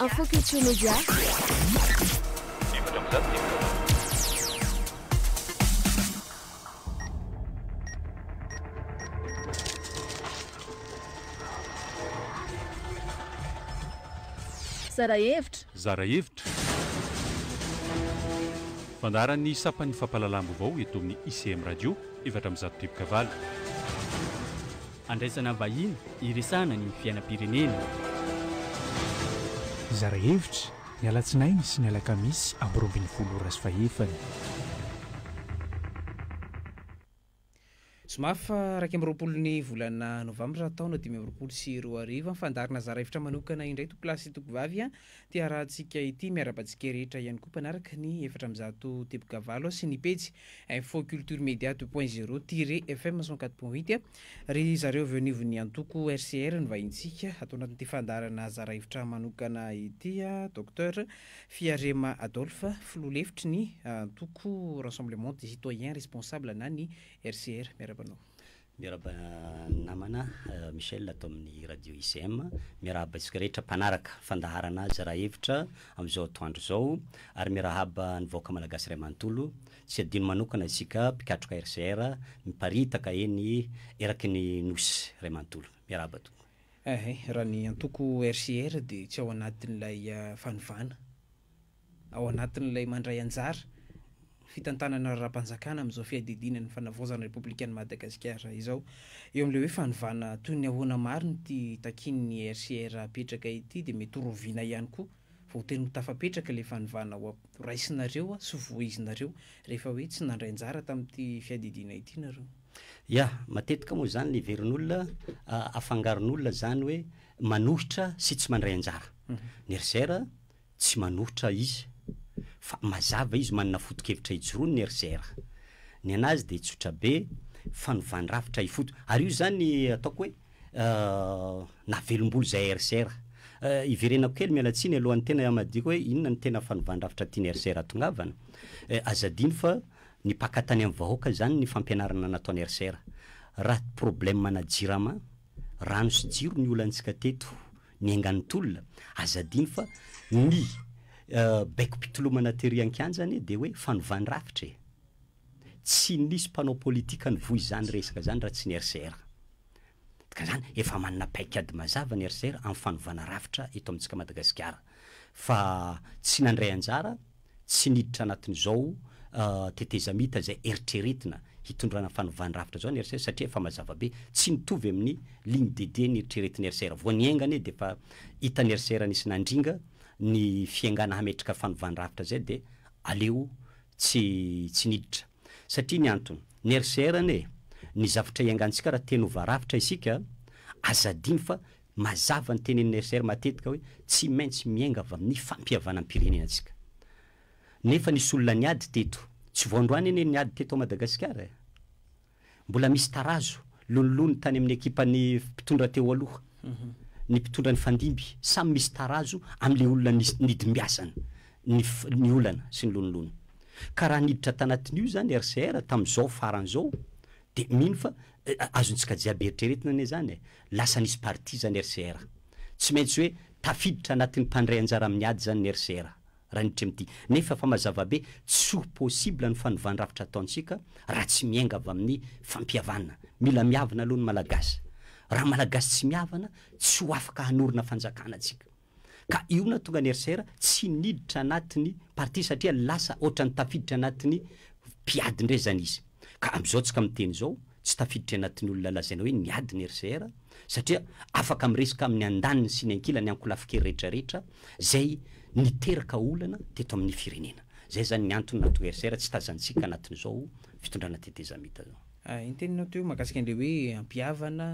Info Culture Média. Zara hevitra. Zara hevitra. Fandaharan'ny sampan'ny fampahalalam-baovao eto amin'ny ICM Radio, efatra amby zato driboka valo. Handraisana vahiny hiresahana ny fiainam-pirenena. Hizara hevitra, ny alatsinainy sy ny alakamisy amby roa ambin'ny folo ora sy fahefany. Zoma faha iraika amby roapolo ny volana novambra taona dimy amby roapolo sy roa arivo. Fandaharana zara hevitra manokana indray toko lahy sy toko vavy ity harahantsika ity. Miaraba antsika rehetra ihany koa mpanaraka ny efatra amby zato teboka valo sy ny pejy Info Culture Media deux point zero tiret FM cent quatre point huit Ry zareo avy eo anivon'ny antoko RCR ny vahintsika ato anatin'ity fandaharana zara hevitra manokana ity, Docteur Fiarema Adolphe, filoha lefitry ny antoko Rassemblement des Citoyens Responsables na ny RCR. Miarahaba anao. Miarahaba ny namana Michel ato amin'ny radio ICM. Miarahaba isika rehetra mpanaraka fandaharana azy raha hevitra amin'izao atoandro izao ary miarahaba ny vahoaka malagasy iray manontolo. Tsy adino manokana isika mpikatroka RCR miparitaka eny eraky ny Nosy iray manontolo. Miarahaba tompoko. Ehe, raha ny antoko RCR dia tsy ao anatin'ilay fanovana. ao anatin'ilay mandray anjara fitantanana ara-panjakana amin'izao fiadidiana ny fanavaozana ny Repoblikan'i Madagasikara izao. Eo amin'ilay hoe fanovana toy ny ahoana marina ity takian'ny RCR hapetraka ity dia mety horoviana ihany koa fa ho tena ho tafapetraka ilay fanovana ho raisinareo sy voizinareo rehefa hoe tsy nandray anjara tamin'ity fiadidiana ity nareo. Ya, matetika moa izany leverin'olona, afangaron'olona izany hoe manohitra sy tsy mandray anjara ny RCR Tsy manohitra izy fa mazava izy manana fotokevitra ijoroany ry Zer. Ny anazy dia tsotra be, fanovàn-drafitra ifoto. Ary io izany ataoko hoe navelombolo izay ry Zer. Iverenako kely miala tsiny alohan'ny tena hamadihiko hoe inona no tena fanovàn-drafitra tian'i ry Zer hatongavana. Aza adino fa ny mpaka tany amin'ny vahoaka izany ny fampianarana nataon'i ry Zer. Raha problème-na jirama, rano sy jiro ny olantsika teto Ny aingan'ny tolona, aza adino fa ny baiko-pitolomana tery an-kianja anie dia hoe fanovàn-drafitra e! Tsy nisy mpanao politika nivoy izany resaka izany raha tsy ny RCR. Ka izany efa manana paikady mazava ny RCR amin'ny fanovàna rafitra eto amintsika Madagasikara. Fa tsy nandray anjara Tsy niditra anatin'izao tetezamita izay eritreretina hitondrana fanovàn-drafitra izao ny RCR satria efa mazava be. Tsy mitovy amin'ny ligne de dia neritreretin'ny RCR. Vao niainga anie dia efa hitan'ny RCR nisy nandringa ny fiaingàna hametraka fanovàn-drafitra izay dia aleo tsy tsy niditra. Satria ny antony, ny RCR anie, ny zavatra iangantsika raha te-hanova rafitra isika, aza adino fa Mazava ny tenenin'i RCR matetika hoe tsy maintsy miainga avy amin'ny fampihavanam-pirenena isika. Nefa nisy olona niady teto. Tsy vao androany anie ny niady teto ao Madagasikara e! Mbola misy tarazo lonilony tany amin'ny ekipan'ny mpitondra teo aloha, ny mpitondra nifandimby. Samy misy tarazo amin'ilay olona nidimbiasana ny ny olana sy ny lonilony. Ka raha niditra tanatin'io izany RCR tamin'izao farany izao Dia mino fa azontsika jiaby eritreretina anie izany e! Lasa nisy parti izany RCR. Tsy maintsy hoe tafiditra anatin'ny mpandray anjara amin'ny ady izany ny RCR, raha ny Tremty. Nefa fa mazava be, tsy ho possible ny fanovandrafitra ataontsika raha tsy miainga avy amin'ny fampihavana. Mila miavana aloha ny Malagasy. Raha Malagasy tsy miavana, tsy ho afaka hanorina fanjakana tsika. Ka io nahatonga an'i RCR tsy niditra anatin'ny parti satria lasa ohatran'ny tafiditra anatin'ny mpiady indray izany izy. Ka amin'izao tsika miteny izao, tsy tafiditra anatin'ny olona lazaina hoe niady ny RCR satria afaka miresaka amin'ny andaniny sy ny ankilany ankolafin-kery rehetra rehetra izay niteraka olana teto amin'ny firenena. Izay izany ny antony nahatonga RCR tsy tazantsika anatin'izao fitondrana tetezamita izao. Ny teninao teo mahakasika an'ilay hoe hampihavana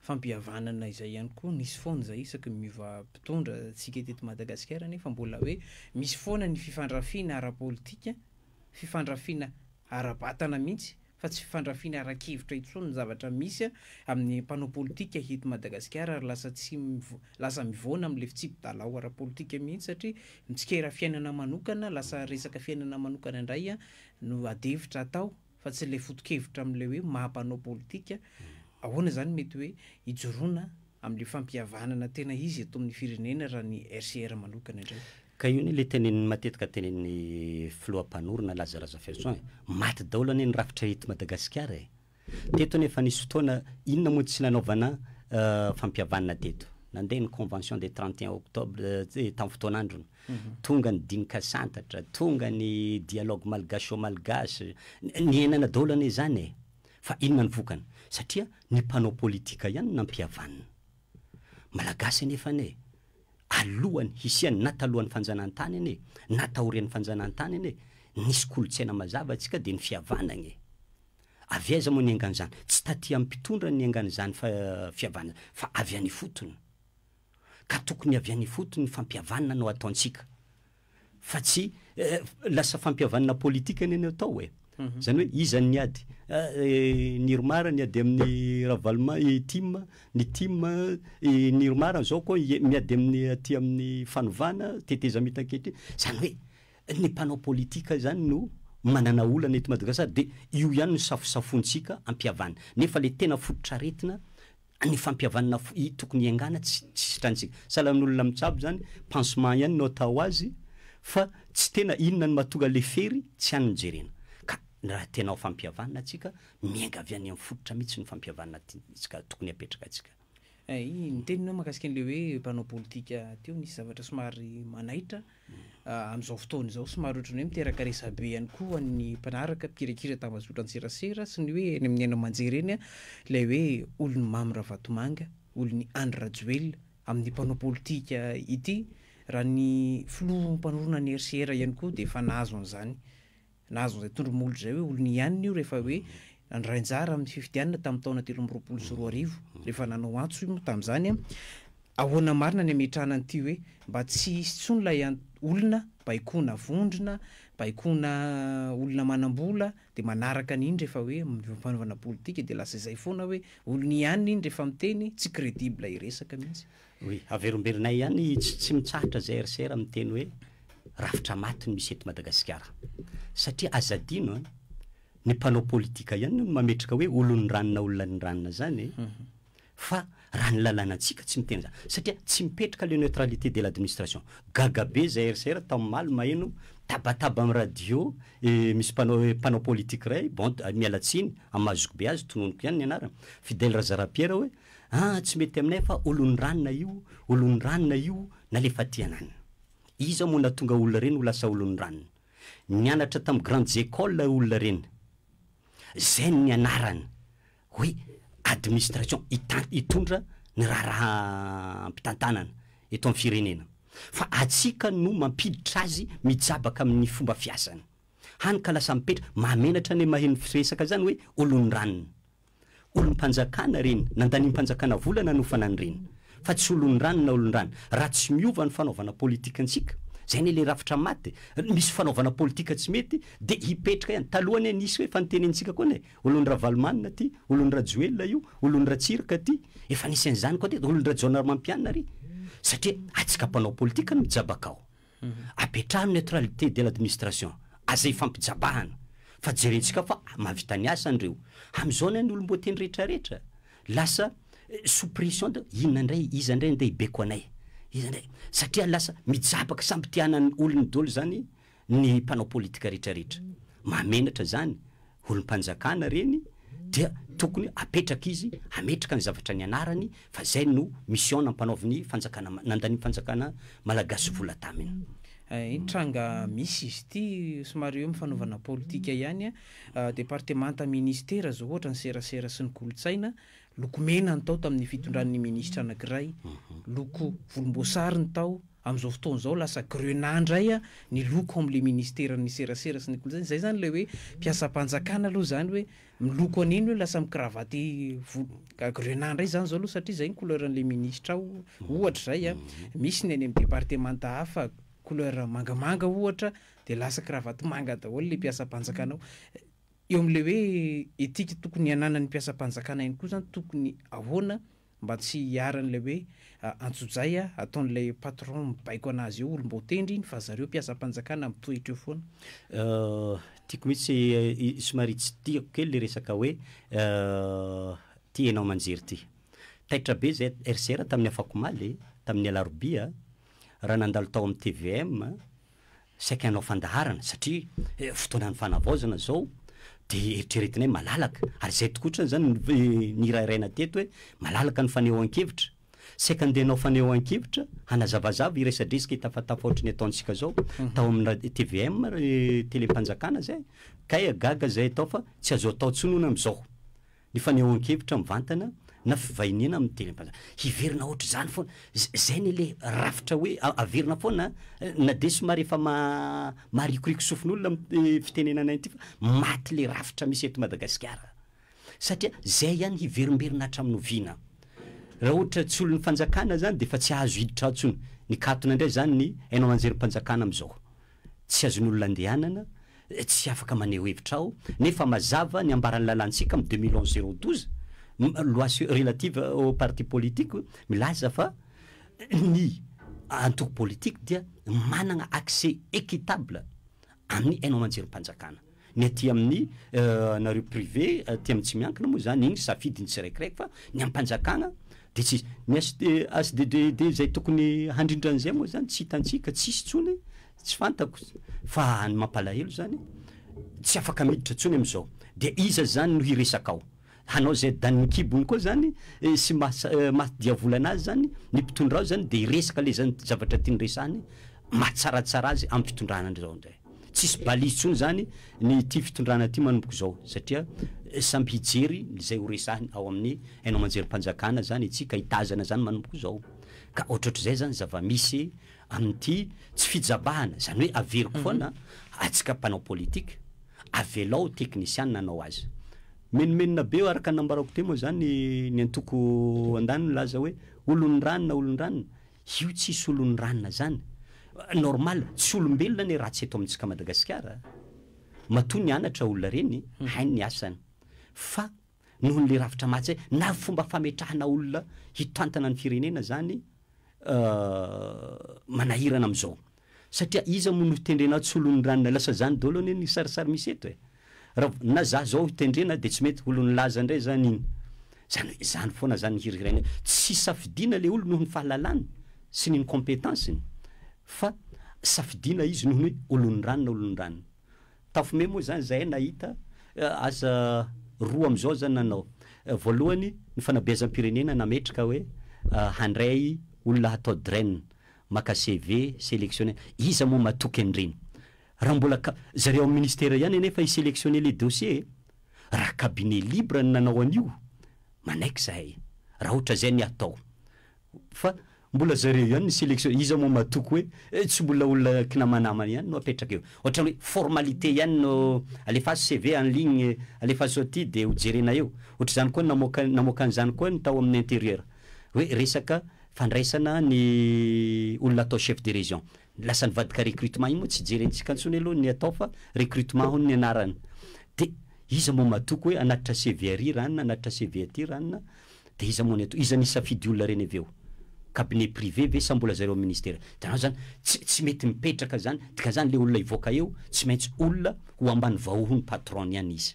fampihavanana izay ihany koa nisy foana izay isaky ny miova mpitondra tsika teto Madagasikara nefa mbola hoe misy foana ny fifandrafiana ara-politika, fifandrafiana ara-batana mihitsy fa tsy fifandrafiana ara-kevitra intsony ny zavatra misy amin'ny mpanao politika eto Madagasikara ary lasa tsy lasa mivoana amin'ilay fitsipi-dalao ara-politika mihitsy satria mitsikera fiainana manokana lasa resaka fiainana manokana indray no adihevitra atao. fa tsy ilay foto-kevitra amin'ilay hoe maha mpanao politika ahoana izany mety hoe hijoroana amin'ilay fampihavanana tena izy eto amin'ny firenena raha ny RCR manokana indray. Ka io anie ilay tenenin'ny matetika tenenin'ny filoha mpanorina Laza Razafiarison e! Maty daholo anie ny rafitra eto Madagasikara e! Teto anie efa nisy fotoana inona moa tsy nanaovana fampihavanana teto? Nandeha ny convention des trente et un octobre tamin'ny fotoan'androny Tonga ny dinikasantatra, tonga ny dialogue malgacho-malgache, niainana daholo anie izany e! Fa inona ny vokany? Satria ny mpanao politika ihany no nampihavanina. Malagasy anefa anie, alohan'ny hisian'ny, na talohan'ny fanjanahantany anie, na taorian'ny fanjanahantany anie, nisy kolontsaina mazava antsika dia ny fihavanagna e! Avy aiza moa niaingan'izany? Tsy taty amin'ny mpitondra no niaingan'izany fihavanana izany, fa avy any ifotony. ka tokony avy any ifotony ny fampihavanana no ataontsika fa tsy lasa fampihavanana politika ny any atao e zany hoe iza ny ady ny irmar ny ady amin'ny ravaloma i tim ny tim ny irmar zao koa miady amin'ny aty amin'ny fanovana tetezamita ankehitriny zany hoe ny mpanao politika zany no manana olana eto madagasikara dia io ihany no safosafointsika ampihavana nefa le tena fototr'aretina ny fampihavanana fo i tokony hiaingàna tsy tsy sitrantsika salan'olona mitsabo zany pansement ihany no atao azy fa tsy tena inona no mahatonga le fery tsy any no jerena ka raha tena ho fampihavanana tsika miainga avy any amin'ny fototra mitsy ny fampihavanana tiantsika tokony hapetraka tsika. Ay, ny teninao mahakasika an'ilay hoe mpanao politika teo nisy zavatra somary manaitra Amin'izao fotoana izao, somary ohatran'ny hoe miteraka resabe ihany koa ho an'ny mpanaraka mpikirakira tambazotran-tserasera sy ny hoe eny amin'ny haino aman-jery eny ilay hoe olon'i Mamy Ravatomanga, olon'i Andry Rajoelina amin'ny mpanao politika ity, raha ny filoha mpanorina ny RCR ihany koa dia efa nahazo an'izany Nahazo an'izay tondromolo izay hoe olony ihany io rehefa hoe nandray anjara amin'ny fifidianana tamin'ny taona telo amby roapolo sy roa arivo, rehefa nanao antso i Mo tamin'izany. Ahoana marina ny hametrahana an'ity hoe mba tsy hisy intsony ilay olona baikoana vondrona, baikoana olona manam-bola, dia manaraka an'iny rehefa hoe mivampihanovana politika, dia lasa izay foana hoe olony ihany iny rehefa miteny, tsy credible hiresaka mihitsy. Oui, averimberenay ihany tsy tsy mitsahatra zay ry sera miteny hoe rafitra maty no misy eto Madagasikara. Satria aza adino an, ny mpanao politika ihany no mametraka hoe olon'ny ranona olona ny ranona zany e. Fa raha ny lalànantsika tsy miteny zany. Satria tsy mipetraka le neutralité de l'administration. Gaga be zay ry sera taomaly maheno tabataba am radio e misy mpanao mpanao politika iray, bon miala tsiny, amazoko be azy, tononiko ihany ny anarany, Fidèle Razarapiera hoe Aa tsy mety aminay fa olon'ny ranona io, olon'ny ranona io nalefateanan. Iza moa natonga olona reny ho lasa olon'ny ranona. Nianatra tam grandes écoles olona reny. Zay ny anarany hoe administration hitan hitondra ny raharaha mpitantanana eto am firenena. Fa atsika no mampiditra azy mijabaka amin'ny fomba fiasany. Hany ka lasa mipetra, mahamenatra ny maheno firesaka zany hoe olon'ny ranona. Olom-panjakana ireny, nandaniam-panjakana vola nanofana an'ireny, fa tsy olon-drano na olon-drano. Raha tsy miova ny fanaovana politikantsika, izay anie ilay rafitra maty e! misy fanaovana politika tsy mety dia hipetraka ihany. Taloha anie nisy hoe, efa notenenintsika koa anie, olon-dRavalomanana ity, olon-dRajoelina io, olon-dRatsiraka ity, efa nisy an'izany koa teto, olon-dRajaonarimampianina ary, satria atsika mpanao politika no mijabaka ao. Apetraho ny neutralité de l'administration, aza ifampijabahana, fa jerentsika fa mahavita ny asany ireo. Amin'izao anie ny olom-boateny rehetra rehetra lasa sous pression de inona indray, iza indray andeha hibeko anay, iza indray, satria lasa mijabaka samy te hanana ny olony daholo izany ny mpanao politika rehetra rehetra. Mahamenatra izany. olom-panjakana reny dia tokony apetraka izy hametraka ny zavatra nianarany fa zay no mission nampanaovin'ny fanjakana nandanin'ny fanjakana malagasy vola taminy. Iny tranga misy izy ity somary eo amin'ny fanaovana politika ihany, departemanta, ministera zao ohatra ny serasera sy ny kolontsaina Loko mena ny tao tamin'ny fitondran'ny minisitra anankiray, loko volomboasary ny tao, amin'izao fotoana izao lasa grenat indray ny loko ao amin'ilay ministeran'ny serasera sy ny kolontsaina, izay izany ilay hoe mpiasam-panjakana aloha izany hoe miloko an'iny hoe lasa mi-cravate volo, grenat indray izany izao aloha satria izay ny couleur an'ilay minisitra ao ohatra izay an, misy ny any amin'ny departemanta hafa couleur mangamanga ohatra dia lasa cravate manga daholo ilay mpiasam-panjakana ao. Eo amin'ilay hoe etika tokony hananan'ny mpiasam-panjakana ihany koa izany, tokony ahoana mba tsy hiharan'ilay hoe antsojay ataon'ilay patron mibaiko an'azy eo, olom-baotendry iny fa zareo mpiasam-panjakana mitoetra eo foana. Tiako mihitsy, somary tsy tiako kely ilay resaka hoe ity hainao aman-jery ity. Taitra be izay RCR tamin'ny afakomaly, tamin'ny alarobia, raha nandalo tao amin'ny tvm, saika hanao fandaharana satria fotoanan'ny fanavaozana izao dia eritreretina hoe malalaka ary izay tokoa otrany izany nirahiraina teto hoe malalaka ny fanehoan-kevitra. Saika andeha hanao fanehoan-kevitra hanazavazava hiresadresaka hitafatafa ohatry ny ataontsika izao tao amina tvm telem-panjakana izay kay gaga izay atao fa tsy azo atao intsony hono amin'izao. Ny fanehoan-kevitra mivantana na fivahiniana amin'ny teny am-panahy. Hiverina ohatr'izany foana. Izay anie ilay rafitra hoe averina foana an! Na dia somary efa maharikoriko sofin'olona amin'ny fitenenana ity fa maty ilay rafitra misy eto Madagasikara. Satria izay ihany hiverimberina hatramin'ny oviana? Raha ohatra tsy olon'ny fanjakana izany dia efa tsy azo hiditra ao intsony. Nikatona indray izany ny haino aman-jerim-panjakana amin'izao. Tsy azon'olona andehanana, tsy afaka maneho hevitra aho, nefa mazava ny ambaran'ny lalantsika am deux mille onze zéro douze, loi sur relative aux partis politiques, milaza fa ny antoko politique dia manana accès équitable amin'ny haino aman-jerim-panjakana. Ny aty amin'ny anareo privé aty amin'ny tsy miankina moa zany iny safidin'ny tsiraikiraiky fa ny am-panjakana de tsy izy. Ny HDDD izay tokony handrindra an'izay moa zany tsy hitantsika, tsisy intsony, tsy fantako. Fa ny mampalahelo zany tsy afaka miditra intsony am'zao. De iza zany no hiresaka ao? Hanao izay danin'ny kibony koa zany sy maha diavolana azy zany ny mpitondra ao zany de hiresaka le zany zavatra tiany resahany mahatsaratsara azy am fitondrana ndray zao ndray tsisy balise tsony zany ny ity fitondrana ty manomboka zao satria samby hijery izay ho resahiny ao amin'ny haino amanjerim-panjakana zany itsy ka hitazana zany manomboka zao ka ohatrohatrizay zany zava-misy Amin'ity tsy fijabahana, izany hoe averiko foana, atsika mpanao politika, avelao teknisiana hanao azy. Menomenona be eo araka ny nambarako teo moa izany ny antoko andany milaza hoe olon'ny ranona, olon'ny ranona. Io tsy hisy olon'ny ranona izany. Normal, tsy olombelona anie ratsy eto amintsika Madagasikara. Matoa nianatra olona ireny, hainy ny asany. Fa nohon'le rafitra maty zay na fomba fametrahana olona hitantana ny firenena zany manahirana amzao satria iza moa no hitendrena tsy olon'ny ranona lasa zany daholo anie ny sarisary misy eto e! rav na za zao hitendrena de tsy mety olon'ny laza ndray zany iny zany hoe zany foana zany ny hirihiraina hoe tsy hisafidiana le olo nohon'ny fahalalany sy ny incompetence-ny fa safidiana izy nohon'ny hoe olon'ny ranona olon'ny ranona. Tafome moa zany zahay nahita asa roa amizao zany nanao. Voalohany ny fanabeazam-pirenena nametraka hoe handray olona hatao drain, maka CV, selectionner. Iza moa matoky an'ireny? Raha mbola ka, zareo amin'ny ministera ihany anefa hi selectionner le dossier e! Raha cabinet libre no nanao an'io, manaiky zahay. Raha ohatrazay ny hatao. Fa mbola zareo ihany ny selection, iza moa matoky hoe eh tsy mbola olona kinamanamana ihany no apetraka eo. Ohatrany hoe formalité ihany no alefaso CV en ligne, alefaso aty dia ho jerena eo. Ohatr'izany koa namoaka namoaka an'izany koa ny tao amin'ny interieur. Hoe resaka fandraisana ny olona atao chef de région. ny lasan'ny vadika recrutement iny moa tsy jerentsika intsony aloha ny atao fa recrutement hono ny anarany de iza moa matoky hoe hanatitra CV ary ranona hanatitra CV aty ranona de iza moa ny atao iza ny hisafidy olona reny avy eo cabinet privé ve sa mbola zareo amin'ny ministera hitanao zany tsy tsy mety mipetraka zany dikan'izany le olona hivoaka eo tsy maintsy olona ho ambany vahohon'ny patron-ny any izy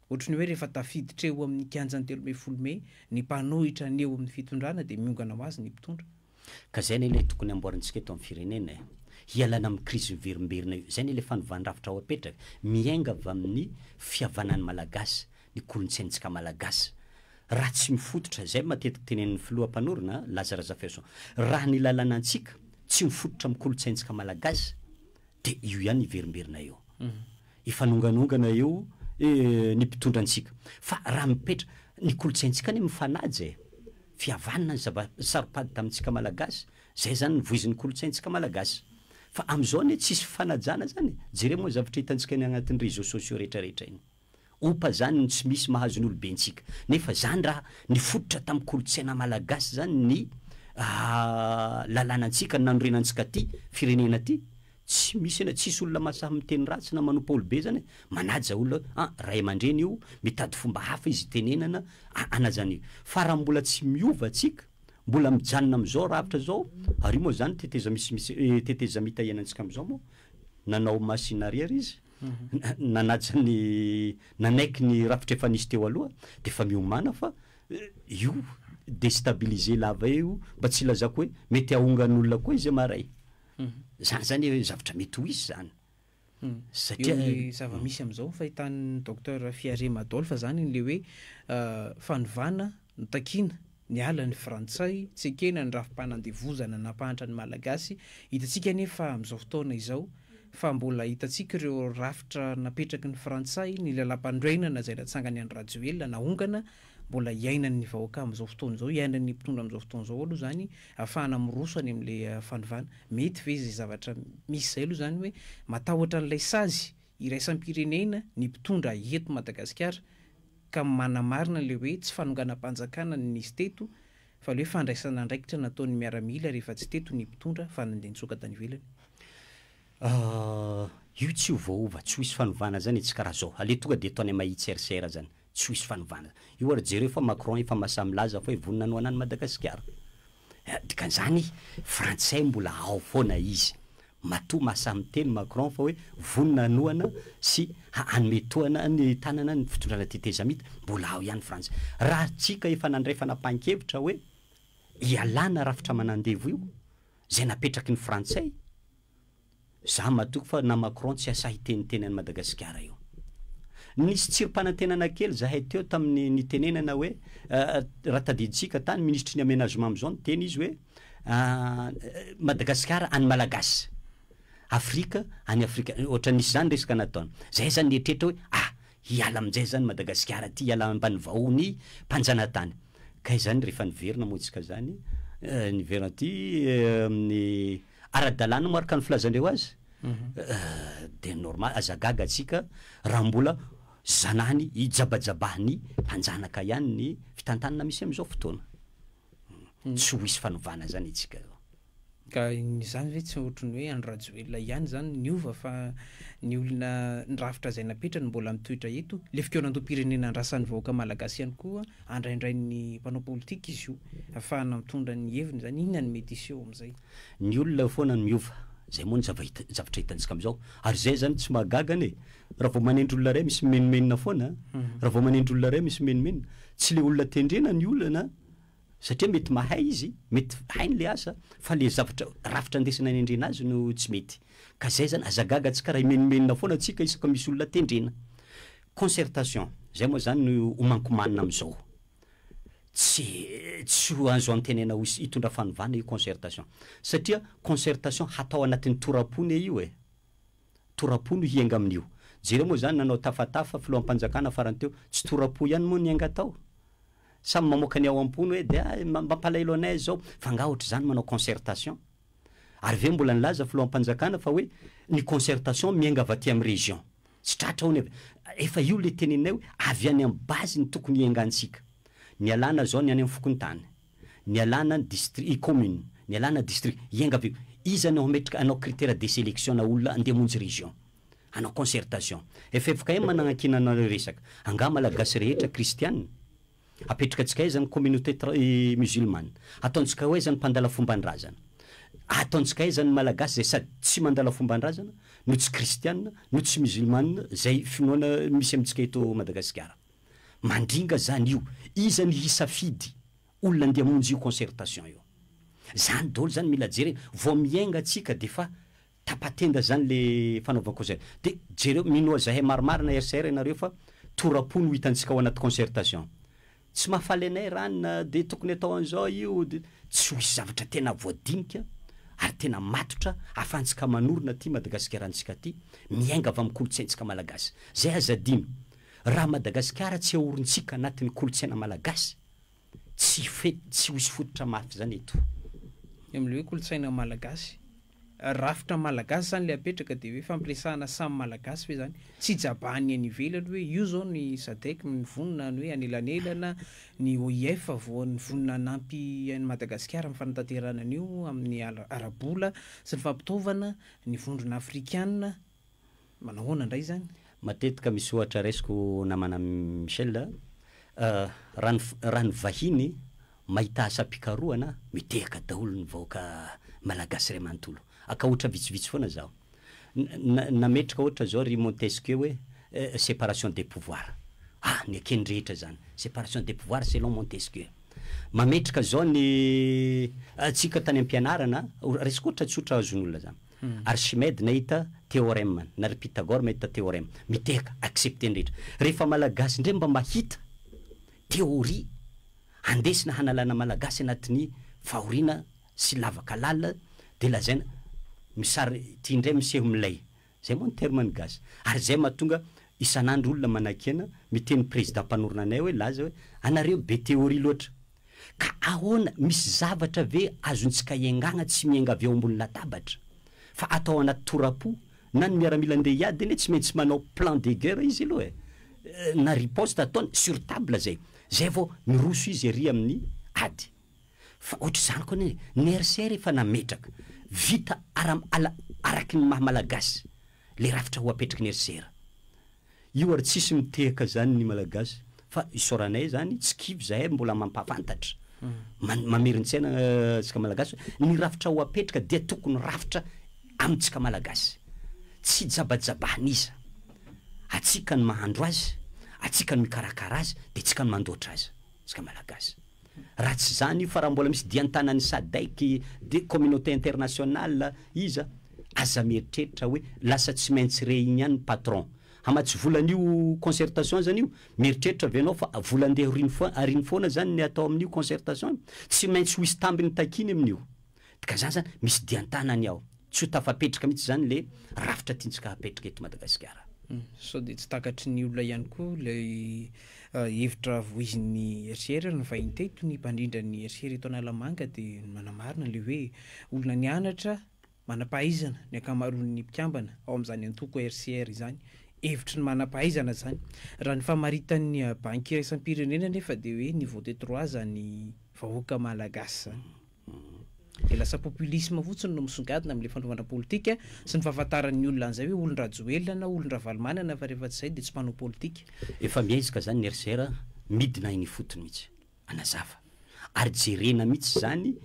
Ohatry ny hoe rehefa tafiditra eo amin'ny kianjan'ny telo ambin'ny folo mey ny mpanohitra ny eo amin'ny fitondrana dia miongana ho azy ny mpitondra. Ka izay anie ilay tokony amboarintsika eto amin'ny firenena e! Hialana amin'ny krizy miverimberina io. Izay anie ilay fanovàn-drafitra ho apetraka. Miainga avy amin'ny fihavanan'ny Malagasy, ny kolontsaintsika Malagasy. Raha tsy mifototra, izay matetika tenenin'ny filoha mpanorina, Laza Razafihaison, raha ny lalàna antsika tsy mifototra amin'ny kolontsaintsika Malagasy dia io ihany hiverimberina eo. Hifanonganongana eo ny mpitondra antsika. Fa raha mipetra, ny kolontsaintsika anie mifanaja e! Fihavanana ny zava saropady tamintsika malagasy, zay zany ny voizin'ny kolontsaintsika malagasy. Fa amizao anie tsisy fifanajana zany e! Jereo moa ny zavatra hitantsika eny agnatin'ny réseaux sociaux rehetra rehetra eny. Ompa zany no tsy misy mahazo ny olobentsika. Nefa zany raha nifototra tamin'ny kolontsaina malagasy zany ny lalànantsika, ny nanorenantsika ty firenena ty. Tsy misy anie, tsisy olona mahasahy miteny ratsy na manompo aolo be zany e, manaja olona hoe an ray amandreny io, mitady fomba hafa izy hitenenana an azany e, fa raha mbola tsy miova tsika, mbola mijanona amizao rafitra zao, ary io moa zany teteza misimisy e teteza mita ianantsika amizao moa, nanao machine arrière izy, nanaja ny nanaiky ny rafitra efa nisy teo aloha, de efa miomana fa io destabiliser lava eo io, mba tsy ilazako hoe mety ahongan olona koa izy maray, Izany izany zavatra mety ho izy izany. Satria eo ilay zava-misy amin'izao fahitan'ny Docteur Fiarema Adolphe izany ilay hoe fanovana no takiana, niala ny frantsay, tsy ekena ny rafi-panandevozana nampahantra ny Malagasy, hitantsika anefa amin'izao fotoana izao fa mbola hitantsika ireo rafitra napetraky ny frantsay, ny lalam-panorenana izay natsangan'i Andry Rajoelina, nahongana, mbola iainan'ny vahoaka amin'izao fotoana izao, iainan'ny mpitondra amin'izao fotoana izao aloha izany Afahana miroso any amin'ilay fanovana. Mety ve izay zavatra misy izay aloha izany hoe matahotra an'ilay sazy iraisam-pirenena ny mpitondra eto Madagasikara ka manamarina ilay hoe tsy fanonganam-panjakana no nisy teto fa ilay hoe fandraisana andraikitra nataon'ny miaramila rehefa tsy teto ny mpitondra fa nandeha nitsoaka tany ivelany? Io tsy ho voaova, tsy ho hisy fanovana izany e, tsy karaha izao. Aleo tonga dia ataony am-mahitsy RCR izany. Tsy ho hisy fanovana. Io ary jereo fa Macron efa mahasahy milaza fa hoe vonona hanohana an'i Madagasikara. Dikan'izany, frantsay mbola ao foana izy. Matoa mahasahy miteny Macron fa hoe vonona hanohana sy hanome tohana ny tanana ny fitondrana tetezamita, mbola ao ihany frantsay. Raha antsika efa nandray fanapahan-kevitra hoe ialana rafitra manandevo io, izay napetraky ny frantsay, Za matoky fa na Macron tsy asahy hiteniteny any Madagasikara io. Nisy tsirimpanantenana kely zahay teo tamin'ny nitenenana hoe raha tadidintsika tany minisitry ny amenagement amizao niteny izy hoe Madagasikara any Malagasy, Afrika any Afrika, ohatra nisy zany resaka nataony. Zahay zany nieritreritra hoe ah! hiala aminjay zany Madagasikara ty hiala ambany vahohon'ny mpanjanatany. Kay zany refa niverina moa tsika zany, niverina aty amin'ny. Ara-dalàna moa araka ny filazandreo azy? Dia normal, aza gaga tsika raha mbola zanany ijabajabahan'ny mpanjanaka ihany ny fitantanana misy amin'izao fotoana. Tsy ho hisy fanovana izany itsika eo. Ka izany ve tsy ohatry ny hoe Andry Rajoelina ihany izany niova fa ny olona ny rafitra izay napetrany mbola mitoetra eto? Ilay fikaonandoham-pirenena andrasan'ny vahoaka malagasy ihany koa andraindrain'ny mpanao politika izy io afahana mitondra ny heviny zany inona ny mety hiseho amizay. Ny olona eo foana no miova, zay moa ny zavatra hitantsika amizao, ary zay zany tsy mahagaga anie, raha vao manendry olona iray misy mimenomenona foana, raha vao manendry olona iray misy mimenomenona, tsy le olona tendrena ny olana satria mety mahay izy, mety hainy le asa, fa le zavatra rafitra ndesina anendrena azy no tsy mety, ka zay zany aza gaga tsika raha himenomenona foana tsika isaka misy olona tendrena, Concertation, izay moa izany no homankomanina amin'izao. Tsy tsy ho azo antenaina ho hitondra fanovana io concertation. Satria concertation hatao anatin'ny tora-po ne io e. Tora-po no hiainga amin'io. Jereo moa izany nanao tafatafa filoham-panjakana farany teo, tsy tora-po ihany moa niainga tao. Samy mamoaka ny ao am-pony hoe dia mampalahelo anay izao. Fa angaha ohatr'izany manao concertation? Ary ve mbola nilaza filoham-panjakana fa hoe ny concertation miainga avy aty amin'ny région. Tsy tratra ao ny avy. Efa io ilay teneninay hoe avy any amin'ny base no tokony hiaingantsika. Nialana izao ny any amin'ny fokontany. Nialana ny distri, commune. Nialana district. Hiainga avy eo. Iza no hametraka, hanao critère de sélection na olona handeha hamonjy région. Hanao concertation. FFKM nanankiana anareo resaka. Angaha Malagasy rehetra kristiana? Apetrakantsika aiza ny communauté musulmane? Ataontsika ho aiza ny mpandala fomban-drazana? Ataontsika aiza ny Malagasy izay sady tsy mandala fomban-drazana no tsy kristiana no tsy musulmane izay finoana misy amintsika eto Madagasikara? Mandringa izany io. Iza ny hisafidy olona andeha hamonjy io concertation io? Izany daholo izany mila jerena. Vao miainga tsika dia efa Tapa-tenda zany le fanaovako zay. De jereo, minoa zahay marimarina RCR ianareo fa tora-po no hitantsika ao anaty concertation. Tsy mahafaly anay Rana, de tokony atao an'izao io, de. Tsy ho hisy zavatra tena voadinika ary tena matotra ahafahantsika manorina ty Madagasikaranttsika ty, miainga avy amin'ny kolontsaintsika malagasy. Zay aza adino, raha Madagasikara tsy ahorintsika anatin'ny kolontsaina malagasy, tsy hifety, tsy ho hisy fototra mafy zany eto. Ny amin'ilay hoe kolontsaina malagasy, Rafitra malagasy zany le apetraka de hoe fampiresahana samy malagasy ve zany? Tsy jaban'ny any ivelany hoe io zao ny sadec mivonona ny hoe anelanelana, ny OIF vao nivonona hanampy an'i Madagasikara amin'ny fanatanterahana an'io amin'ny ara-bola sy ny fampitaovana, ny vondrona afrikana, Manao ahoana indray izany? Matetika misy ohatra raisiko namana Michel a, raha ny raha ny vahiny mahita asam-pikarohana a, mitehaka daholo ny vahoaka malagasy iray manontolo. Akahotra vitsivitsy foana izaho. Na nametraka ohatra izao ry Montesquieu hoe séparation des pouvoirs. A, neken'ny rehetra izany. Séparation des pouvoirs selon Montesquieu. Mametraka izao ny antsika tany am-pianarana, raisiko ohatra tsotra azon'olona izany. Archimede nahita theorem, na ry Pythagore mahita theorem, mitehaka, accepter ny rehetra. Rehefa Malagasy indray mba mahita theorie handesina hanalana Malagasy anatin'ny fahoriana sy lavaka lalina dia lazaina misary ity indray miseho milay. Izay moa ny terme ny gasy. Ary izay mahatonga isan'andro olona manakena miteny prezida mpanorina anay hoe laza hoe anareo be theorie loatra. Ka ahoana, misy zavatra ve azontsika iangana tsy miainga avy eo ambony latabatra, fa atao anaty tora-po? Na ny miaramila andeha hiady anie tsy maintsy manao plan de guerre izy aloha eh! Na riposte ataony sur table zay, zay vao miroso izy ery amin'ny ady. Fa ohatr'izany koa anie, ny RCR efa nametraka, vita ara, ala, araky ny maha malagasy, le rafitra ho apetraky ny RCR. Io ary tsisy mitehaka zany ny malagasy fa isaoranay zany tsy kivy zahay mbola mampafantatra mamerintsaina tsika malagasy hoe ny rafitra ho apetraka dia tokony rafitra amitsika malagasy tsy jabajabanisa atsika no mahandro azy atsika no mikarakara azy dia tsika no mandoatra azy tsika malagasy Raha tsy izany io fa raha mbola misy dian-tanan'ny Sadec dia communauté internationale iza? Aza mieritreritra hoe lasa tsy maintsy re igny ihany ny patron. Hamatsy vola an'io concertation zany io? Mieritreritra ve ianao fa vola andeha ariny foana zany ny atao amin'io concertation io? Tsy maintsy ho hisy tambiny takiany amin'io. Ka zany zany misy dian-tanany ao. Tsy ho tafapetraka mihitsy zany le rafitra tiantsika hapetraka eto Madagasikara. Sao dia tsy takatry ny olona ihany koa ilay hevitra voizin'ny HCR ary nivahiny teto ny mpandrindra ny HCR eto Analamanga dia manamarina ilay hoe olona nianatra, manam-pahaizana ny ankamaroan'ny mpikambana ao amin'izany antoko HCR izany. Hevitry ny manam-pahaizana izany. Raha ny famaritan'ny Banky iraisam-pirenena anefa dia hoe ny vote trois zany vahoaka Malagasy zany. Dia lasa populisme fotsiny no misongadina amin'ilay fanaovana politika sy ny fahafantaran'ny olona an'izay hoe olon-dRajoelina na olon-dRavalomanana fa rehefa tsy izay dia tsy mpanao politika. Efa miaiska zany ny RCR a, midina any ifotony mihitsy. Anazava. Ary jerena mihitsy zany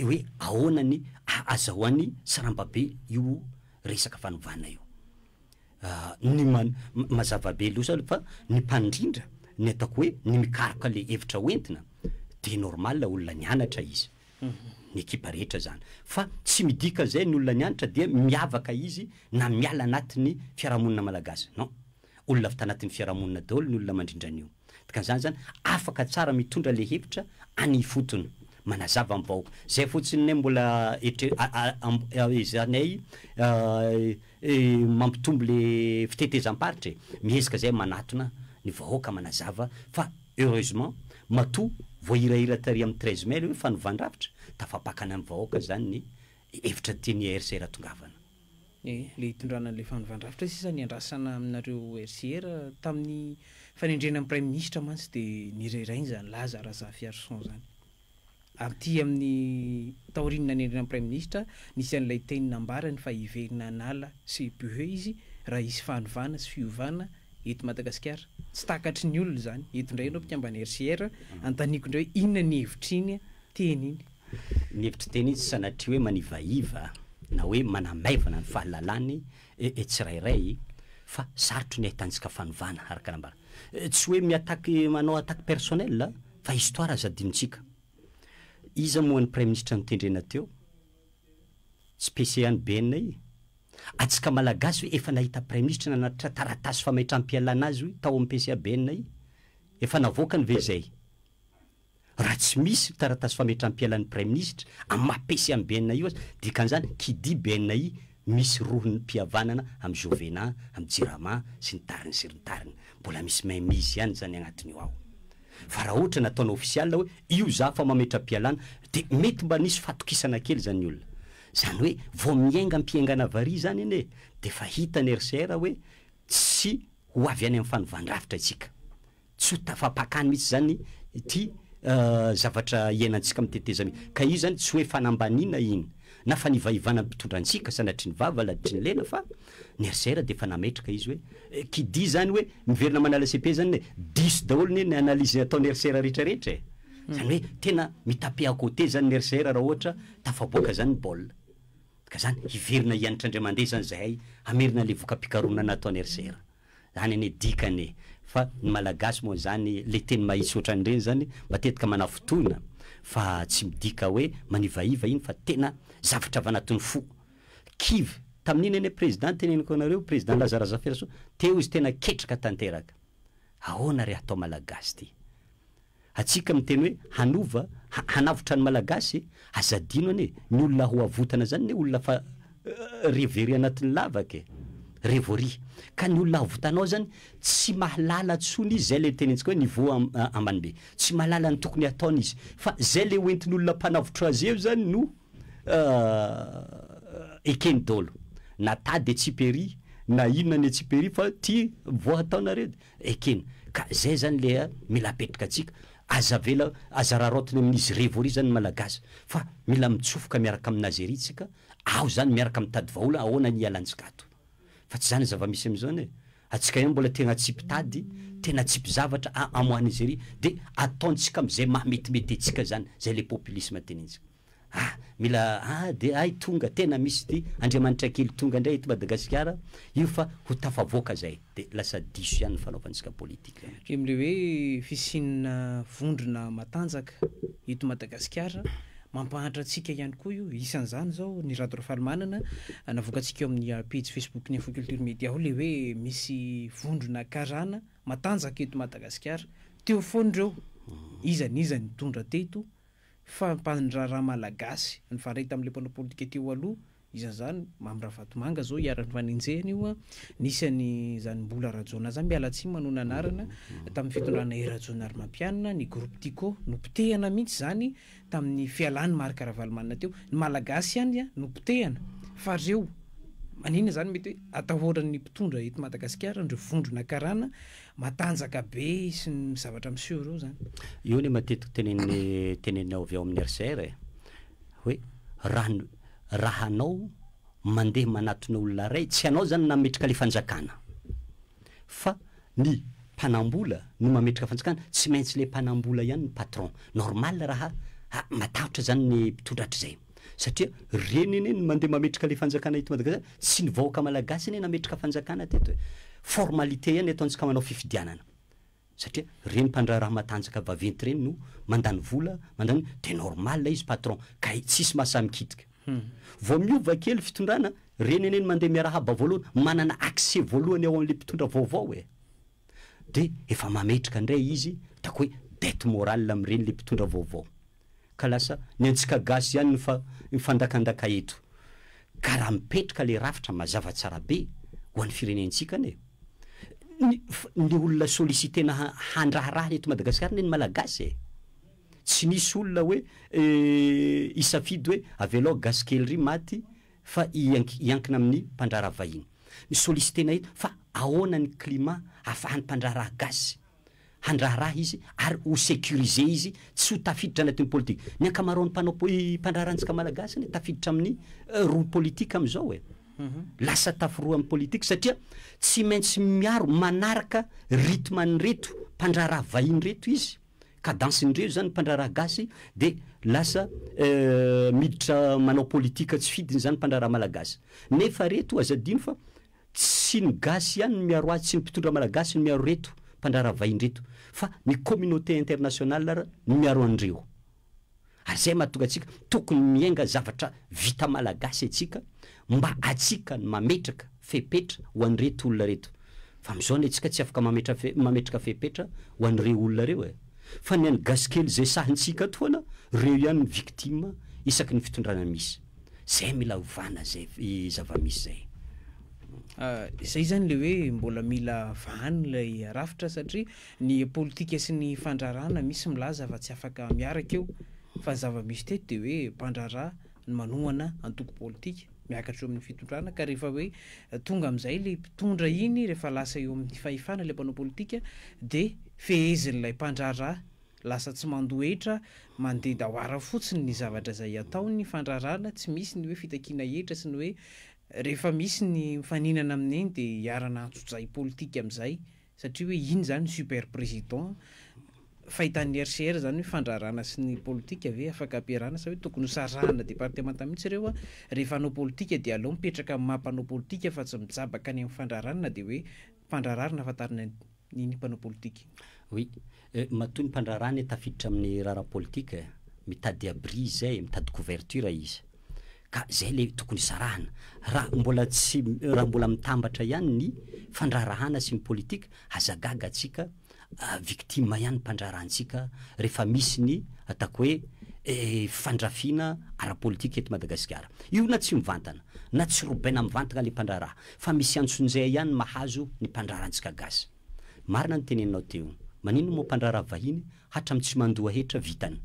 hoe ahoana ny ahazahoany saramba be io resaka fanovana io. ny man, mazava be losa aloha fa ny mpandrindra, ny ataoko hoe ny mikaroka le hevitra ho entina de normal olona nianatra izy, ny ekipa rehetra zany fa tsy midika zay ny olona nianatra dia miavaka izy na miala anatin'ny fiarahamonina malagasy, non, olona avy tanatin'ny fiarahamonina daholo ny olona mandrindra an'io. Dikan'izany zany afaka tsara mitondra le hevitra any ifotony, manazava am vahoaka. Zay fotsiny ne mbola etre- ezahanay mampitombo le fitetezam-paritra e. Miezaka zay manatona ny vahoaka manazava fa heureusement matoa voahirahira tary am treize mai le hoe fanovan-drafitra, tafapakana am vahoaka zany ny hevitra tian'i RCR atongavana. Ny le hitondrana an'ilay fanovandravitra sisa niandrasana aminareo RCR tamin'ny fanendrena ny praiminisitra mantsy dia nirahirainy zany laza Razafiarison zany. Aty amin'ny taorian'ny nanendrena ny praiminisitra nisy an'ilay teny nambarany fa hiverina hanala sy bhe izy raha hisy fanovana sy fiovana eto Madagasikara. Tsy takatry ny olona zany. Eto ndray ireo mpikambana RCR, antaniko ndray hoe inona ny hevitriny teny iny. Ny hevitr'i Teny tsy sanatria hoe manivaiva na hoe manamaivana ny fahalalany e tsirairay fa sarotry ny ahitantsika fanovana, araka nambara. Tsy hoe mi-attaque, manao attaque personnelle fa histoire aza adinontsika. Iza moa ny Praiminisitra notendrena teo? Tsy PC any BNI? Atsika Malagasy ve efa nahita Praiminisitra nanatitra taratasy famaitram-pialana azy hoy tao amin'ny PCA BNI? Efa navoakany ve izay? Raha tsy misy taratasy fametram-pialan'ny Praiminisitra amin'ny maha PC an'i BNI io aza, dikan'izany, qui dit BNI, misy rohon'ny mpihavanana amin'i Jovena, amin'i Jirama sy ny tariny sy ny tariny. Mbola misy mainmise ihany izany agnatin'io ao. Fa raha ohatra nataonao ofisialy hoe io za fa mametram-pialana, dia mety mba nisy fahatokisana kely izany ny olona. Izany hoe vao miainga am-piaingana vary izany anie, dia efa hitan'i RCR hoe tsy ho avy any amin'ny fanovan-drafitra isika. Tsy ho tafapakany mihitsy izany ity zavatra iainantsika amin'ny tetezamita ity. Ka io izany tsy hoe fanambaniana iny, na fanivaivana ny mpitondra antsika, sanatria ny vava laditry ny lela, fa ny RCR dia efa nametraka izy hoe, qui dit izany hoe miverina manala cepe izany anie, diso daholo anie ny analyse ataon'ny RCR rehetrarehetra e! Izany hoe tena mi-taper à côté izany ny RCR raha ohatra tafaboaka izany ny baolina. Ka izany hiverina hianatra indray mandeha izany izahay hamerina ilay voka-pikarohana nataon'ny RCR. Any anie dikany e! Fa ny malagasy moa zany le teny mahitsy ohatran'ireny zany matetika manafintohina fa tsy midika hoe manivaiva iny fa tena zavatra avy anatin'ny fo. Kivy tamin'iny anie président teneniko anareo président Laza Razafirasoa teo izy tena ketraka tanteraka. Ahoana re hatao malagasy ty. Antsika miteny hoe hanova, hanavotra ny Malagasy e! Aza adino anie, ny olona ho avotana zany anie olona fa re very anatin'ny lavaka e! re voaria. Ka ny olona avotanao zany tsy mahalala tsony izy, zay le tenentsika hoe niveau ambany be. Tsy mahalala ny tokony hataony izy. Fa zay le ho entin'olona mpanavotra azy eo zany no ekeny dolo. Na tady etsy i Perry, na inona ny etsy i Perry fa ty voa hataonareo. Ekena ka zay zany le mila apetraka tsika, aza avela, aza raraotina amin'izy revory zany ny malagasy fa mila mitsofoka miaraka amina Azeria tsika ao zany miaraka mitady vahola ahoana hialantsika ato fa tsy zany zavamisy amizao ne atsika ihany mbola tegna tsy mpitady tena tsy mpizavatra a amoa Nizeria de ataontsika amizay maha metimety atsika zany zay le populisme tenentsika. Ah mila ah de ay tonga tena misy ity Andriamanitra kely tonga indray eto Madagasikara io fa ho tafavoaka zay de lasa diso ihany ny fanaovantsika politique an. Em le hoe fisiana vondrona matanjaka eto Madagasikara mampahantra antsika ihany koa io isan'izany zao ny Rado Rafalimanana navoakantsika eo amin'ny pejy Facebook ny Info Culture Media ao le hoe misy vondrona karana matanjaka eto Madagasikara teo foana ireo iza n'iza nitondra teto fampahandraharaha malagasy nifandray tamin'ilay mpanao politika teo aloha, isan'izany Mamy Ravatomanga izao iharan'ny fanenjehana io an, nisy an'izany Mbola Rajaonah izany, miala tsiny manoana anarana, tamin'ny fitondrana I Rajaonarimampianina, ny groupe Tiko, nopotehana mihitsy izany tamin'ny fialan'i Marc Ravalomanana teo, ny malagasy ihany an, nopotehana, fa ry zeo maninona izany mety hoe atahoran'ny mpitondra eto Madagasikara an'ireo vondrona karana, Matanjaka be sy ny zavatra miseho ireo zany. Io anie matetiky tenenin'ny teneninao avy ao amin'ny RCR e! hoe raha ny raha anao mandeha manatona olona iray, tsy anao zany nametraka le fanjakana fa ny mpanambola no mametraka fanjakana, tsy maintsy le mpanambola ihany no patron. Normal raha, ah, matahotra zany ny mpitondra hatrizay. satria reny anie no mandeha mametraka le fanjakana eto Madagascar, tsy ny vahoaka malagasy anie nametraka fanjakana teto e, formalité ihany ataontsika manao fifidianana, satria reny mpandraharaha matanjaka vaventy reny no mandany vola, mandany, de normal ilay izy patron, kay tsisy maha samy kitika. Vao miova kely fitondrana, reny anie no mandeha miarahaba voalohany, manana accès voalohany ao amle mpitondra vaovao e, de efa mametraka ndray izy, ataoko hoe dette morale amreny le mpitondra vaovao. Ka lasa ny antsika gasy ihany no mifandakandaka eto. Ka raha mipetraka ilay rafitra mazava tsara be ho an'ny firenentsika anie. Ny ny olona sollicitena handraharaha eto Madagasikara anie ny Malagasy e. Tsy nisy olona hoe hisafidy hoe avelao gasy kely iry maty fa hiankina amin'ny mpandraharaha vahiny. Ny sollicitena eto fa ahoana ny climat ahafahan'ny mpandraharaha gasy handraharaha izy ary ho securiser izy tsy ho tafiditra anatin ny politik ny ankamaroan ny mpanao poli mpandraharaha antsika malagasy anie tafiditra amin ny rohy politik amin izao e lasa tafirrohy amin ny politik satria tsy maintsy miaro manaraka rythme an ireto mpandraharaha vahiny ireto izy cadence ndreo zany ny mpandraharaha gasy de lasa miditra manao politik tsy fidiny zany ny mpandraharaha malagasy nefa reto aza adino fa Tsy ny gasy ihany no miaro azy, tsy ny mpitondra malagasy no miaro ireto mpandraharaha vahiny ireto fa ny communauté internationale ary no miaro an'ireo. Ary izay mahatonga antsika tokony miainga zavatra vita malagasy antsika mba atsika no mametraka fepetra ho an'ireto olona ireto. Fa amin'izao anie tsika tsy afaka mametra mametraka fepetra ho an'ireo olona ireo e! Fa ny an'ny gasy kely izay sahintsika atoana, ireo ihany no victime isaky ny fitondrana misy. zay mila ovana zay zavamisy zay. Izay zany le hoe mbola mila vahana ilay rafitra satria ny politika sy ny fandrarana misy milaza fa tsy afaka miaraka eo fa ny zavamisy teto de hoe mpandrara no manohana antoko politika miakatra eo amin'ny fitondrana ka rehefa hoe tonga amin'izay le mpitondra iny rehefa lasa eo amin'ny fahefana le mpanao politika de fehezin'ilay mpandrara Lasa tsy mandohetra, mandeha dawara fotsiny ny zavatra izay ataony, ny fandrarana, tsy misy ny hoe fitakiana hetra sy ny hoe rehefa misy ny mifaninana amin'iny dia hiarana antsojay politika amin'izay satria hoe iny izany super président, fahitan'ny RCR izany hoe fandrarana sy ny politika ve afaka ampiarahana sa hoe tokony hosarahana départements mihitsy ireo an, rehefa hanao politika dia aleo mipetraka amin'ny maha mpanao politika fa tsy mijabaka any amin'ny fandrarana na dia hoe mpandrararina fa tary ny ny ny mpanao politika. Oui. Matoa ny mpandraharaha anie tafiditra amin'ny raharaha politika e! Mitady abri izay e, mitady couverture izy. Ka izay ilay tokony hisarahana. Raha mbola tsy, raha mbola mitambatra ihany ny fandraharahana sy ny politika, aza gaga antsika, victime ihany ny mpandraharaha antsika rehefa misy ny ataoko hoe fandrafiana ara-politika eto Madagasikara. Io na tsy mivantana, na tsy robaina mivantana ilay mpandraharaha, Fa misy antsonjay ihany mahazo ny mpandrara antsika gasy. Marina ny teneninao teo. Maninona moa mpandrara vahiny hatram tsy mandoa hetra vitany.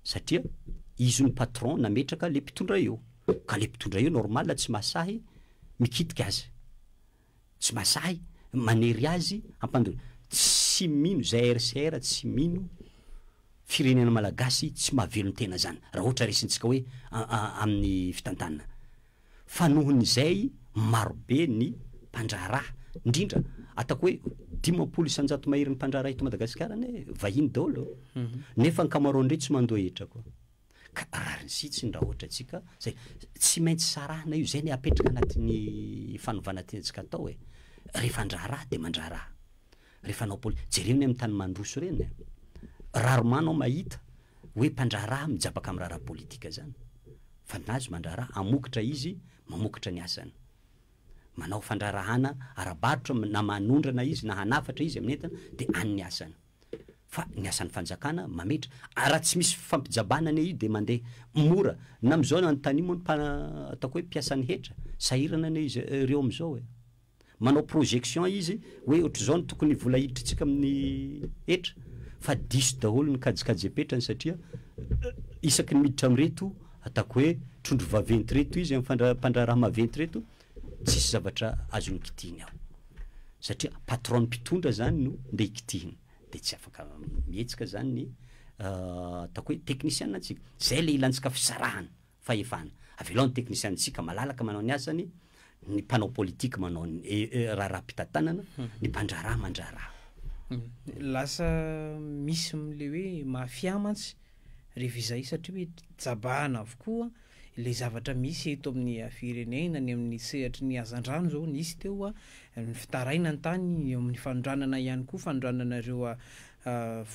Satria izy no patron nametraka le mpitondra eo. Ka le mpitondra eo normal tsy mahasahy mikitika azy. Tsy mahasahy manery azy hampandona. Tsy mino ZRCR tsy mino firenena malagasy tsy mahavelon tena zany. Raha ohatra resintsika hoe amin'ny fitantanana. fa noho izay marobe ny mpandraharaha, indrindra ataoko hoe dimampolo isanjato mahery ny mpandraharaha eto Madagasikara anie vahiny daholo nefa ankamaroany ireo tsy mandoa hetra koa, ka rariny sitsiny raha ohatra antsika zay, tsy maintsy sarahana io, zay ny apetraka anatin'ny fanovana tiantsika atao e, rehefa handraharaha dia mandraharaha, Ry fanao poli, jereo ny amin'ny tany mandroso ireny a! Rarement anao mahita hoe mpandraharaha mijabaka amin'ny raharaha politika izany. Fa ny azy mandraharaha, hamokatra izy, mamokatra ny asany. Manao fandraharahana ara-barotra na manondrana izy na hanafatra izy amin'ny entana dia any ny asany. Fa ny asan'ny fanjakana mametra. Ary raha tsy misy fifampijabana anie io dia mandeha mora. Na amin'izao na anontanio moa ny ataoko hoe mpiasan'ny hetra, sahirana anie izy ireo amin'izao e! manao projection izy hoe ohatr'izao no tokony vola hiditrintsika amin'ny hetra fa diso daholo ny kajikajem-petrany satria isaky ny miditra amin'ireto ataoko hoe trondro vaventy ireto izy amin'ny mpandraharaha maventy ireto tsisy zavatra azony kitihiny ao satria patron mpitondra zany no ndeha hikitihina dia tsy afaka mihetsika zany ny ataoko hoe teknisiana antsika zay le ilantsika fisarahana Fahefana. Avelao ny teknisianintsika malalaka manao ny asany, ny mpanao politika manao ny raharaham-pitantanana, ny mpandraharaha mandraharaha. Lasa misy ilay hoe mafia mantsy rehefa izay satria hoe jabahana avokoa ilay zavatra misy eto amin'ny firenena, ny amin'ny sehatry ny hazandrano izao nisy teo, ny fitaraina ny tany, eo amin'ny fanondranana ihany koa, fanondranana ireo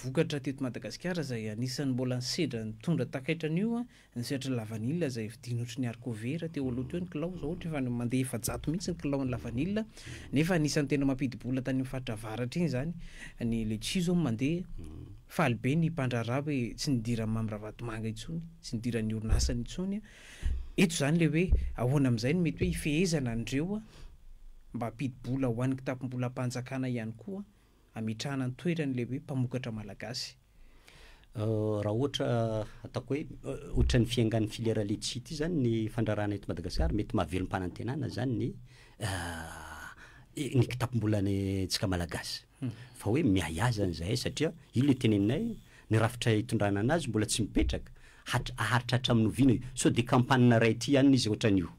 vokatra teto Madagasikara izay anisan'ny mbola nisedra nitondra takaitra an'io Ny sehatry ny lavanila izay vidiana ohatry ny arkovera teo aloha teo ny kilao, izao ohatra efa mandeha efajato mihitsy ny kilaon'ny lavanila, nefa anisan'ny tena mampidi-bola tany amin'ny faritra avaratra iny izany ny letchis izao mandeha, faly be ny mpandraharaha hoe tsy nidiran'i Mamy Ravatomanga intsony, tsy nidiran'ny orinasany intsony, eto izany ilay hoe ahoana amin'izay no mety hoe hifehezana an'ireo mba hampidi-bola ho an'ny kitapom-bolam-panjakana ihany koa hametrahana ny toerany ilay hoe mpamokatra malagasy. Raha ohatra ataoko hoe ohatran'ny fiengan'ny filière letchis ity zany ny fandrarana eto Madagasikara, mety mahavelom-panantenana zany ny ny kitapom-bolantsika malagasy. Hmm. Fa hoe miahy azy zany zahay satria io le teneninay ny rafitra itondrana anazy mbola tsy mipetraka. Hatra- haharitra hatramin'ny oviana io? Sao dia kampanina ray aty ihany izy ohatran'io.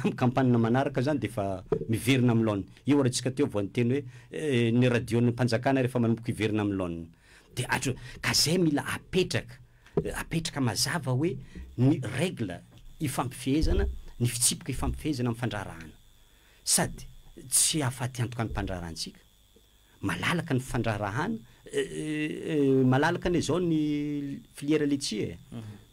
Amin'ny kampana manaraka izany dia efa miverina amin'ny laoniny. Io ary antsika teo vao niteny hoe ny radion'ny mpanjakana rehefa manomboka hiverina amin'ny laoniny. Dia hatr, ka izay mila apetraka, apetraka mazava hoe ny règle ifampifehezana, ny fitsipika ifampifehezana amin'ny fandraharahana. Sady tsy hahafaty antoka ny mpandraharahantsika. malalaka ny fandraharahana malalaka anie zao ny filière laitier e,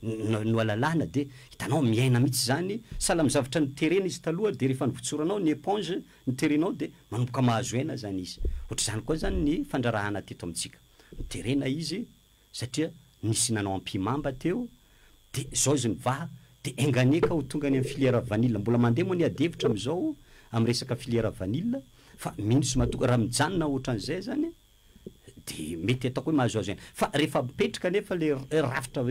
no alalana dia hitanao miaina mihitsy zany, sahala amin'ny zavatra niterena izy taloha dia rehefa nivotsoranao ny éponge niterenao dia manomboka mahazo aina zany izy, ohatr'izany koa zany ny fandraharahana teto amintsika, niterena izy, satria nisy nanao ampihimamba teo de zao izy nivaha de enga anie ka ho tonga any amin'ny filière vanille, mbola mandeha moa ny adihevitra amin'izao amin'ny resaka filière vanille fa mino sy matoky raha mijanona ohatran'izay zany de mety ataoko hoe mahazoazo ihany, fa rehefa mipetraka anefa le rafitra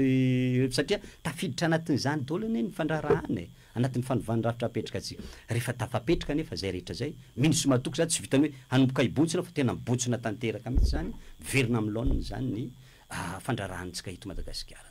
satria tafiditra anatin'izany daholo anie ny fandraharahana e! Anatin'ny fanovana ny rafitra apetraka tsy. Rehefa tafapetraka anefa izay rehetra izay, mino sy matoky izany tsy vitan'ny hoe hanomboka hibontsina fa tena mibontsina tanteraka mihitsy izany, miverina amin'ny laoniny izany ny fandraharahantsika eto Madagasikara.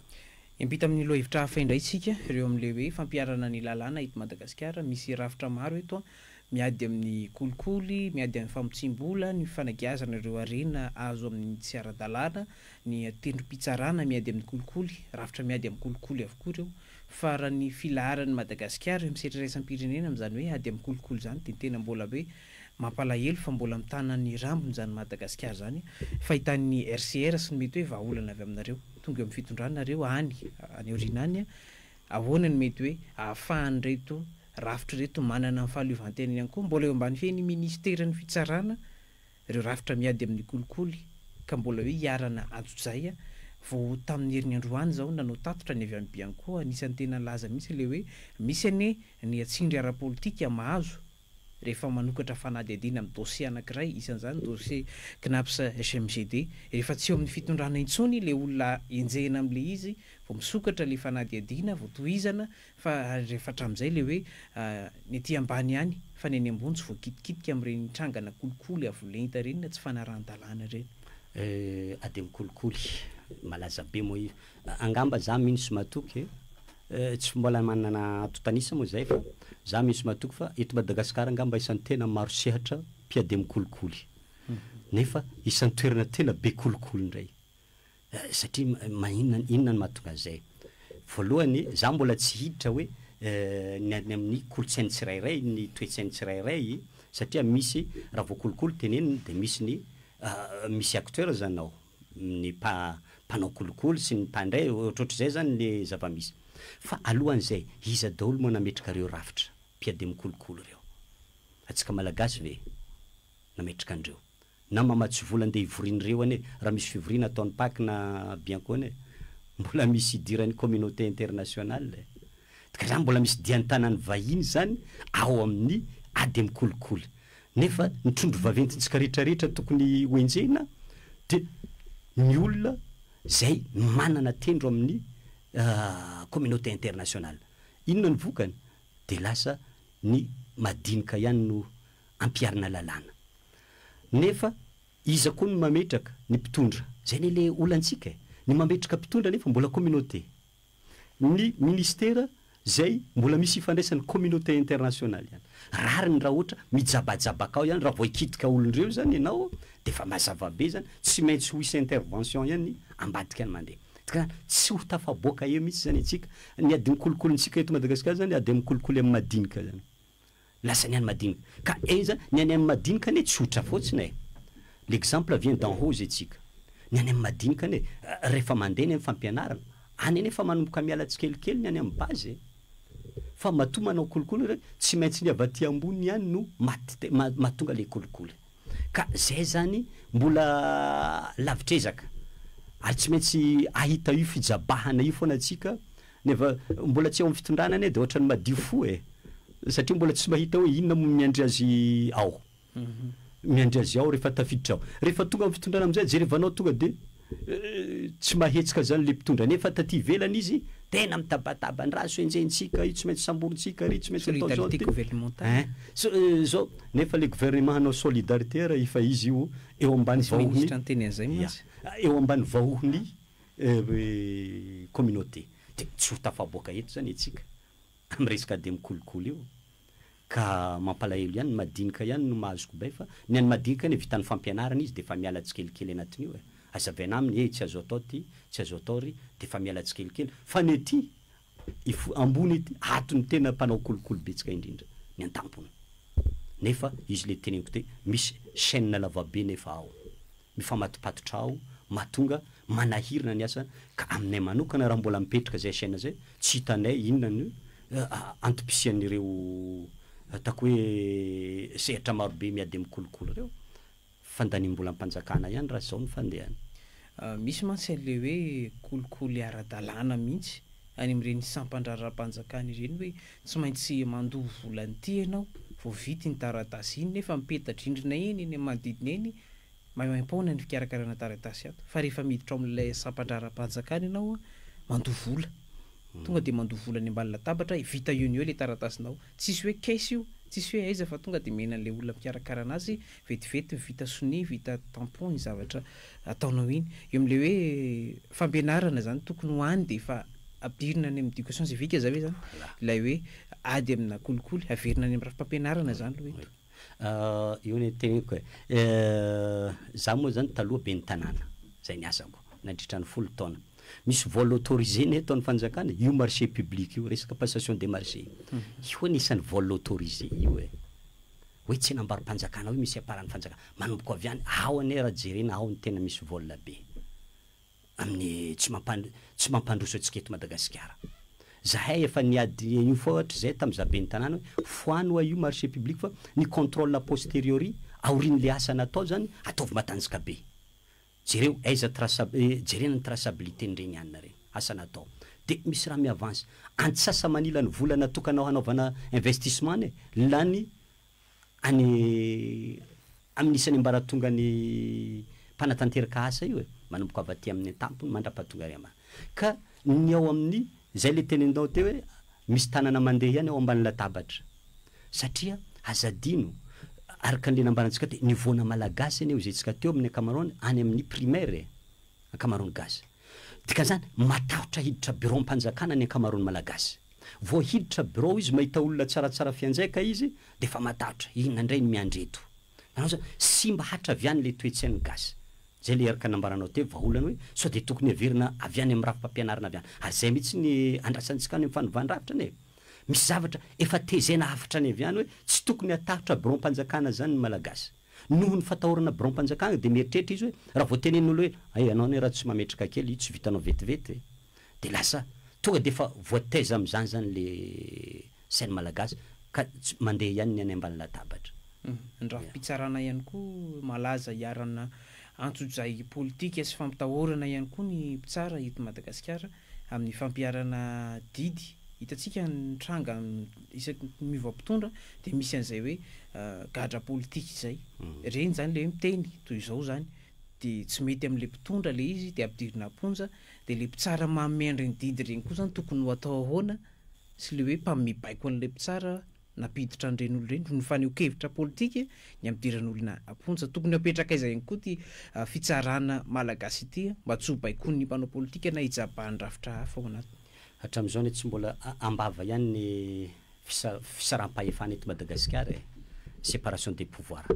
Hiampita amin'ny lohahevitra hafa indray isika ireo amin'ilay hoe fampiharana ny lalàna eto Madagasikara, misy rafitra maro eto an, miady amin'ny kolikoly, miady amin'ny famotsiam-bola, ny fanagiazana ireo harena azo amin'ny tsy ara-dalàna, ny tendrom-pitsarana miady amin'ny kolikoly, rafitra miady amin'ny kolikoly avokoa ireo. fa raha ny filaharan'i Madagasikara eo amin'ny sehatra iraisam-pirenena amin'izany hoe ady amin'ny kolikoly izany dia tena mbola hoe mampalahelo fa mbola mitana ny rambony izany Madagasikara izany fahitan'ny RCR sy ny mety hoe vahaolana avy aminareo tonga eo amin'ny fitondrana nareo any any aoriana any ahoana no mety hoe ahafahan'ireto rafitra ireto manana ny fahaleovantena ihany koa mbola eo ambany fehin'ny minisiteran'ny fitsarana Ireo rafitra miady amin'ny kolikoly ka mbola hoe iharana antsojay a! Vao tamin'ny heriny androany izao nanao tatitra ny avy any Bianco, anisan'ny tena laza mihitsy ilay hoe misy anie ny tsindry ara-politika mahazo rehefa manokatra fanadihadiana amin'ny dosie anankiray, isan'izany dosie Cnaps HMGD. Rehefa tsy eo amin'ny fitondrana intsony ilay olona enjehina amin'ilay izy vao misokatra ilay fanadihadiana, vao tohizana Fa rehefa hatramin'izay ilay hoe ny ety ambany ihany fa ny eny ambony tsy voakitikitika amin'ireny trangana kolikoly avo lenta ireny na tsy fanarahan-dalàna ireny. Euh ademo kolikoly malaza be moa io. Angamba za mino sy matoky eh, tsy mbola manana antontan'isa moa zay fa za mino sy matoky fa eto Madagasikara angamba isan'ny tena maro sehatra mpiademo kolikoly. Nefa isan'ny toerana tena be kolikoly indray Satria maninona, inona no mahatonga an'izay? Voalohany, izaho mbola tsy hiditra hoe ny any amin'ny kolontsain'ny tsirairay, ny toe-tsain'ny tsirairay, satria misy, raha vao kolikoly tenenina dia misy ny misy acteurs ao, ny mpa, mpanao kolikoly sy ny mpandray, ohatrohatr'izay izany ny zava-misy. Fa alohan'izay, iza daholo moa nametraka ireo rafitra mpiadiam-kolikoly ireo? Antsika Malagasy ve nametraka an'ireo? na mamatsy vola ndeha hivorian'ireo anie raha misy fivoriana ataon'ny pac na bianco anie mbola misy idiran'ny communauté internationale e! ka zany mbola misy dian-tanan'ny vahiny zany ao amin'ny ady amin'ny kolikoly nefa ny trondro vaventintsika rehetra rehetra tokony ho enjehina de ny olona zay manana tendro amin'ny communauté internationale inona ny vokany de lasa ny madinika ihany no ampiharina lalàna. Nefa iza koa no mametraka? Ny mpitondra. Izay anie le olantsika e! Ny mametraka mpitondra nefa mbola communauté. Ny ministera izay mbola misy ifandraisany communauté internationale ihany. Rariny raha ohatra mijabajabaka ao ihany, raha vao hikitika olon-dreo izany ianao dia efa mazava be izany, tsy maintsy ho hisy intervention ihany ambadika ny mandeha. Ka tsy ho tafaboaka eo mihitsy izany antsika. Ny adin'ny kolikolintsika eto Madagasikara izany ady amin'ny kolikoly amin'ny madinika izany. Lasa ny any madinika ka enja ny any am madinika anie tsotra fotsiny e! l'exemple vient d'en haut zay tsika ny any am madinika anie refa mande ny am fampianarana any anie efa manomboka miala tsikelikely ny any am base e! fa matoa manao kolikoly re tsy maintsy ny avy aty ambony ihany no mahatonga le kolikoly. Ka zay zany mbola lavitr'ezaka ary tsy maintsy ahita io fijabahana io foana tsika nefa mbola tsy eo amin'ny fitondrana anie de ohatran'ny madio fo e! satria mbola tsy mahita hoe inona moa miandry azy ao, miandry azy ao rehefa tafiditra ao, rehefa tonga amin'ny fitondrana amizay jerevanao tonga de. Tsy mahetsika zany le mpitondra nefa taty ivelany izy tena mitabataba ny raha so enjehintsika io tsy maintsy samborintsika ry tsy maintsy atao zao ein zao nefa le gouvernement hanao solidarité ary efa izy io eo ambany vahohony ya eo ambany vahohony communauté de tsy ho tafaboaka eto zany e tsika am resaka ady mikolokolo io. Ka mampalahelo ihany ny madinika ihany no mahazo kobay fa ny an'ny madinika anie vitan'ny fampianarana izy dia efa miala tsikelikely anatin'io e! Azavaina aminy ee tsy azo atao ity, tsy azo atao ry, dia efa miala tsikelikely fa ny ety ifo, ambony ety ato no tena mpanao kolikoly betsaka indrindra ny antampony. Nefa izy le teneniko te misy chaine lavabe nefa ao. ny famatopatotra aho mahatonga manahirana ny asa ka aminay manokana raha mbola mipetraka izay chaine izay tsy hitanay inona no antom-pisian'ireo ataoko hoe sehatra marobe miady amin'ny kolikoly ireo. Fandaniam-bolam-panjakana ihany raha izao no fandehany. Misy mantsy an'ilay hoe kolikoly ara-dalàna mihitsy any amin'ireny sampan-draharaham-panjakana ireny hoe tsy maintsy mandoa vola an'ity ianao vao vita iny taratasy iny nefa mipeta-drindrina eny eny amin'ny manodidina eny Mahaeo am-poana ny fikarakarana taratasy ato fa rehefa miditra ao amin'ilay sampan-draharaham-panjakana ianao mandoa vola. Tonga dia mandoa vola any ambany latabatra, vita eo no eo ilay taratasinao. Tsisy hoe caisse io, tsisy hoe aiza fa tonga dia omena an'ilay olona mpikarakara an'azy vetivety vita sonia, vita tampon iny zavatra ataonao iny. Eo amin'ilay hoe fampianarana izany tokony ho any dia efa ampidirina any amin'ny éducation civique izay ve izany ilay hoe ady amina kolikoly? Averina any amin'ny rafi-pampianarana izany aloha eto. Io ny teniko e. Za moa zany taloha ben'ny tanàna, zay ny asako nandritra ny folo taona. Misy vol autorisé ny ataon'ny fanjakana, io marché public io, resaka passation des marchés io anisan'ny vol autorisé io e. Hoe tsenam-barom-panjakana hoe misy aparan'ny fanjakana. Manomboka avy any, ao anie raha jerena, ao no tena misy vol be. amin'ny tsy mampand tsy mampandroso antsika eto Madagasikara. Zahay efa niady an'io foa hatrizay tamin'ny za ben'ny tanàna hoe foano oa io marché public fa ny contrôle a posteriori aorian'le asa natao zany ataovy matanjka be. Jereo aiza traça jerena ny traçabilité n'ireny hanina reny, asa natao. De misy raha mi-avance. Antsasa manila ny vola natokanao hanaovana investissement anie lany. any amin'ny isan'ny ambaratongan'ny mpanatanteraka asa io e, manomboka avy aty amin'ny an-tampony mandrapaha tonga ary ama. Ka ny ao amin'ny, zay le teneninao teo hoe misy tanana mandeha ihany ao ambany latabatra. Satria aza adino, araka an'le nambarantsika teo, ny voana malagasy anie hoy zay tsika teo amin'ny ankamaroany any amin'ny primaire e, ankamaroan'ny gasy. Dikan'izany, matahotra hiditra biraom-panjakana ny ankamaroan'ny Malagasy. Vao hiditra birao izy, mahita olona tsaratsara fianjaika izy, dia efa matahotra, inona indray no miandry eto? Nanao izany, simba hatraviany ilay toe-tsain'ny Gasy. Izay ilay erika nambaranao teo, vahaolana hoe, sao dia tokony heverina avy any amin'ny rafi-pampianarana avy any. Ary izay mihitsy ny andrasantsika any amin'ny fanovàn-drafitra anie e! Misy zavatra efa tezena hafatra any avy any hoe, tsy tokony hatahotra biraom-panjakana izany ny Malagasy. Noho ny fatahorana biraom-panjakana dia mieritreritra izy hoe raha vao tenenin'olo hoe hay ianao anie raha tsy mametraka kely io tsy vitanao vetivety ve? dia lasa tonga dia efa voataiza amin'izany izany le sain'ny malagasy ka tsy mandeha ihany ny any ambany latabatra. Ny rafi-pitsarana ihany koa malaza iharanana antsojay politika sy fampitahorana ihany koa ny mpitsara eto Madagasikara. Amin'ny fampiharana didy, hitantsika ny tranga isaky ny miova mpitondra dia misy an'izay hoe gadra politika izay. Ireny izany ilay hoe miteny toy izao izany dia tsy mety amin'ilay mpitondra ilay izy dia ampidirina am-ponja. Dia ilay mpitsara manome an'ireny didy ireny koa izany tokony ho atao ahoana sy ilay hoe mpanome baiko an'ilay mpitsara. Nampiditra an'ireny olona ireny ho nifaneho-kevitra politika ny ampidiran'olona am-ponja. Tokony hapetrak'aiza ihany koa ity fitsarana malagasy ity mba tsy ho baikon'ny mpanao politika na hijabahan'ny rafitra hafa ao anatiny. Hatramin'izao anie tsy mbola am-bava ihany ny fisaram-pahefana eto Madagasikara e! Séparation des pouvoirs.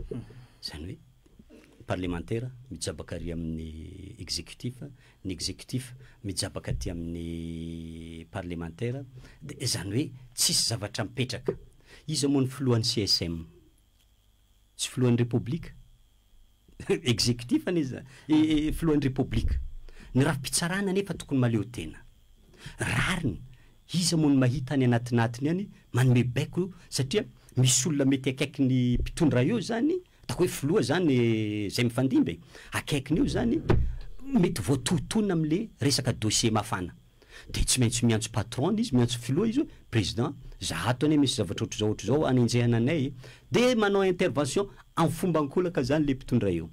Izany hoe parlemantera mijabaka ary amin'ny executif. ny executif mijabaka aty amin'ny parlemantera dia izany hoe tsisy zavatra mipetraka. Iza moa ny filohan'ny CSM? Tsy filohan'ny repoblika? Executif anie izany. Filohan'ny repoblika. Ny rafi-pitsarana anefa tokony mahaleo tena. Rariny, iza moa no mahita any anatinatiny any manome baiko satria misy olona mety akaiky ny mpitondra eo izany Ataoko hoe filoha zany zay mifandimby e, akaikiny eo zany mety voatohitohina amle resaka dossier mafana. De tsy maintsy miantso patron izy, miantso filoha izy hoe président, za ato anie misy zavatra ohatr'izao ohatr'izao anenjehana anay e. De manao intervention am fomba ankolaka zany le mpitondra eo.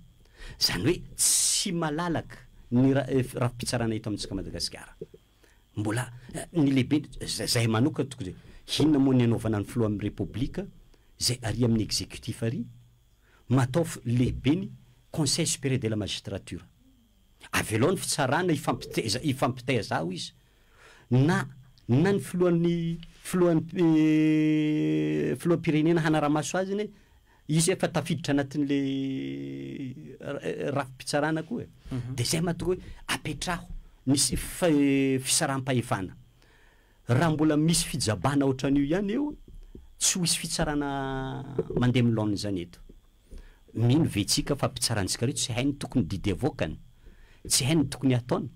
Zany hoe tsy malalaka ny rafi-pitsarana eto amintsika Madagasikara. Mbola ny lehibe zahay manokana tokony hoe inona moa ny anaovana ny filohan'ny Repoblika izay ary amin'ny executif ary? Mataovy lehibe ny Conseil supérieur de la magistrature. Avelao ny fitsarana hifampiteza hifampitaiza ao izy. Na na ny filohan'ny filohan'ny filoham-pirenena hanara-maso azy anie Izy efa tafiditra anatin'le rafi-pitsarana koa e. Dia izay mahatonga hoe apetraho ny fisaraham-pahefana. Raha mbola misy fijabana ohatran'io ihany eo, tsy ho hisy fitsarana mandeha amin'ny laoniny izany eto. Mino ve tsika fa mpitsarantsika ireo tsy hay ny tokony didy avoakany? Tsy hay ny tokony hataony?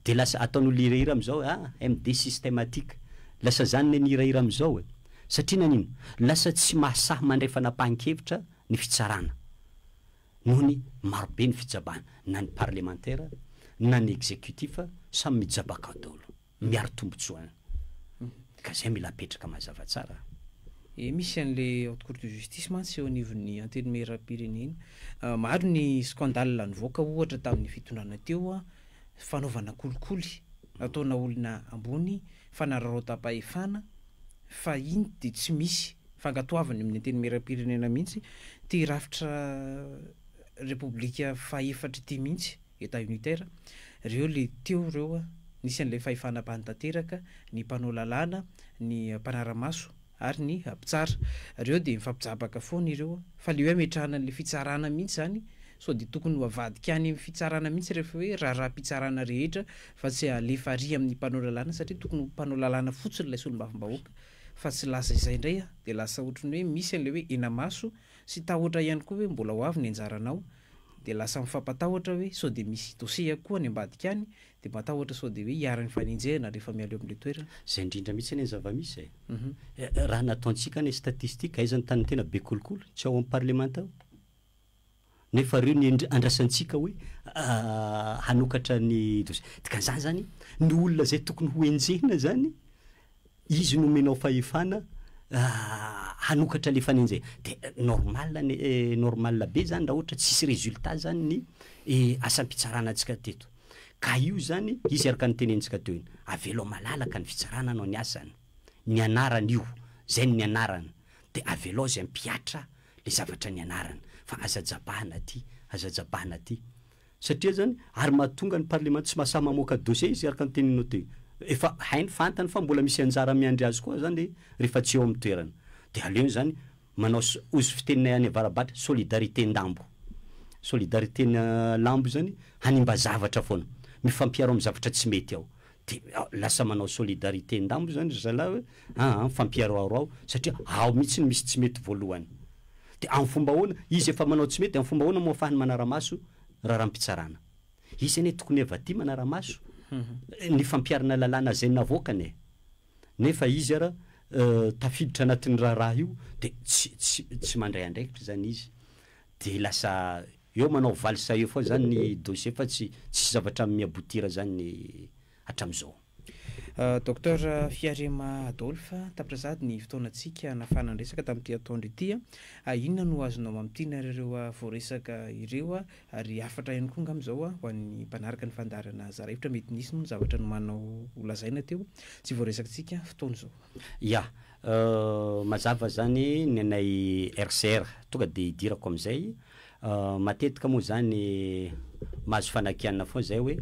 Dia lasa ataon'olona hirahira amin'izao ah MD systematique. Lasa izany ilay mihirahira amin'izao e. Satria nanino? Lasa tsy mahasahy mandray fanapahan-kevitra ny fitsarana. Noho ny marobe ny fijabana. Na ny parlemantera, na ny executif, samy mijabaka daholo. miaro tombotsoa an! Ka zay mila apetraka mazava tsara. Ee misy an'le haute cour de justice mantsy eo anivon'ny antenimierampirenena. Maro ny scandale nivoaka ohatra tamin'ny fitondrana teo, fanaovana kolikoly nataona olona ambony, fanararaotam-pahefana, fa iny dia tsy misy fankatoaviny amin'ny antenimierampirenena mihitsy, ity rafitra repoblika faha efatra ity mihitsy. Etat unitaire, reo le teo reo a, nisy an'ilay fahefana ambany tanteraka, ny mpanao lalàna, ny mpanara-maso ary ny mpitsara. Reo dia mifampijabaka foana ireo a. Fa le hoe ametrahana an'ilay fitsarana mihitsy zany, sao dia tokony ho avadika any amin'ny fitsarana mihitsy rehefa hoe raharaham-pitsarana rehetra fa tsy alefa ary amin'ny mpanao lalàna satria tokony ho mpanao lalàna fotsiny ilay solombavambahoaka fa tsy lasa izay indray a, dia lasa ohatran'ny hoe misy an'ilay hoe henamaso sy tahotra ihany koa hoe mbola ho avy ny anjaranao. dia lasa mifampatahotra hoe sao dia misy dossier koa any ambadika any, dia matahotra sao dia hoe iharan'ny fanenjehana rehefa mialoha amin'ilay toerana. Izay indrindra mihitsy anie ny zava-misy e! Raha nataontsika anie statistique, aiza ny tany tena be kolikoly? Tsy ao amin'ny parlemanta ao? Nefa ireo no andrasantsika hoe hanokatra ny dossier. Dikan'izany izany, ny olona izay tokony hoenjehina izany, Izy nomenao fahefana hanokatra le fanenjehana. De normal anie e, normal be zany raha ohatra tsisy résultat zany ny asam-pitsarana antsika teto. Ka io zany, izy araka ny tenentsika teo iny, avelao malalaka ny fitsarana hanao ny asany. Nianarany io, zay no nianarany. De avelao izy hampihatra le zavatra nianarany. Fa aza jabahana aty, aza jabahana aty. Satria zany ary mahatonga ny parlement tsy mahasahy mamoaka dossier izy araka ny teninao teo. Efa hainy fantany fa mbola misy anjara miandry azy koa zany rehefa tsy eo amin'ny toerana. Dia aleony zany manao ozy fiteninay any avarabatra solidarité ndambo. Solidarité lambo zany hanimba zavatra foana. Mifampiaro amin'ny zavatra tsy mety ao. De lasa manao solidarité ndambo zany ry zalahy hoe aa mifampiharoharo ao satria ao mihitsy no misy tsy mety voalohany. De amin'ny fomba ahoana? Izy efa manao tsy mety de amin'ny fomba ahoana moa afahany manara-maso raharaham-pitsarana? Izy anie tokony efa tia manara-maso ny fampiharana lalàna zay navoakany e! Nefa izy ara tafiditra anatin'ny raharaha io de tsy tsy tsy mandray andraikitra zany izy de lasa Eo manao valsa eo foana zany ny dossier fa tsy tsisy zavatra mi aboutir zany hatramizao. Docteur Fiarema Adolphe, tapitra sahady ny fotoanantsika hanafahana ny resaka tamin'ity atoandro ity. Inona no azonao mamintina ary ireo voaresaka ireo ary hafatra ihany koa angamba izao ho an'ny mpanaraka ny fandaharana Zara Hevitra? Mety nisy moa ny zavatra nomanao holazaina teo tsy voaresakitsika fotoana izao. Ya, Mazava zany nenay RCR, tonga dia idirako amin'izay, matetika moa zany mahazo fanakianana foana zay hoe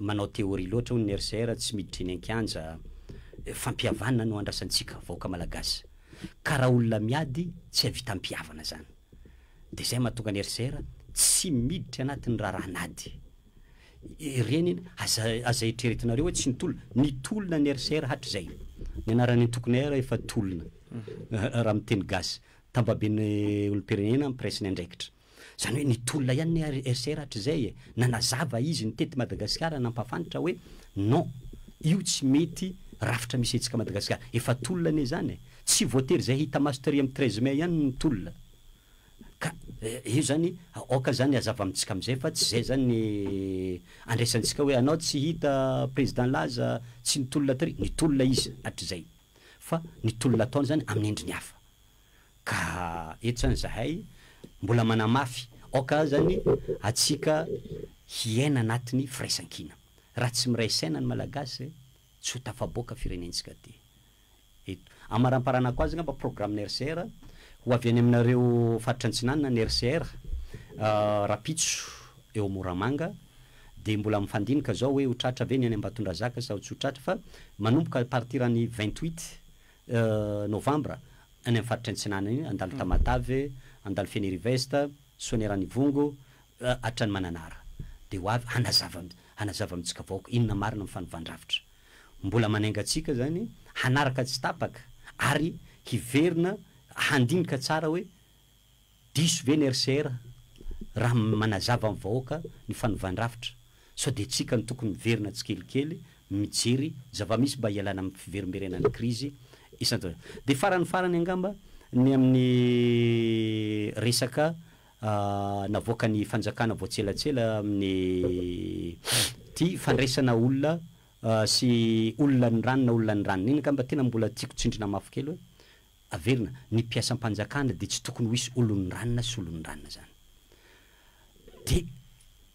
manao théorie loatra hono ny RCR, tsy miditra eny an-kianja, fampihavana no andrasantsika vahoaka malagasy, ka raha olona miady tsy hahavita ampihavana zany, dia zay mahatonga ny RCR tsy miditra anatin'ny raharahan'ady. Ireny anie aza aza eritreretinareo hoe tsy nitolona. Nitolona ny RCR hatrizay. Ny anaran'ny antokony air efa tolona raha miteny gasy. Tambaben'ny olom-pirenena mpiray ny andraikitra. Izany hoe nitolona ihany ny RCR hatrizay e. Nanazava izy nitety Madagasikara nampafantra hoe non, io tsy mety rafitra misy hetsika Madagasikara. Efa tolona anie izany e. Tsy voatery izay hita maso tery amin'ny treize mai ihany no tolona. Ka io zany aoka zany hazava amintsika amizay fa tsy zay zany ny andraisantsika hoe anao tsy hita président laza tsy nitolona tary, nitolona izy hatrizay fa ny tolona ataony zany amin'ny endriny hafa. Ka eto zany zahay mbola manamafy aoka azany atsika hiaina anatiny firaisankina. Raha tsy miray saina ny malagasy tsy ho tafaboaka firenentsika ty. Eto. Amaramparanako azy angamba programme RCR ho avy any aminareo faritra antsinanana ny RCR rapitso eo Moramanga dia mbola mifandinika zao hoe ho tratra ve ny any Ambatondrazaka sao tsy ho tratra fa manomboka à partir ny vingt huit novembre any amin'ny faritra antsinanana iny handalo Tamatave, handalo Fenirivest, Soaniranivongo hatrany Mananara dia ho avy hanazava hanazava amintsika vahoaka inona marina ny fanovandravitra. Mbola manainga antsika izany hanaraka tsy tapaka ary hiverina handinika tsara hoe diso ve ny RCR raha manazava amin'ny vahoaka ny fanovàn-drafitra sao dia tsika no tokony miverina tsikelikely mijery zava-misy mba hialana amin'ny fiverimberenan'ny krizy isan-taona. Dia farany farany angamba ny amin'ny resaka navoakan'ny fanjakana vao tselatsela amin'ny ity fandraisana olona sy olona ny rano na olona ny ranona iny angamba tena mbola tiako tsindrina mafy kely hoe averina ny mpiasam-panjakana dia tsy tokony ho hisy olon'ny ranona sy olon'ny ranona izany dia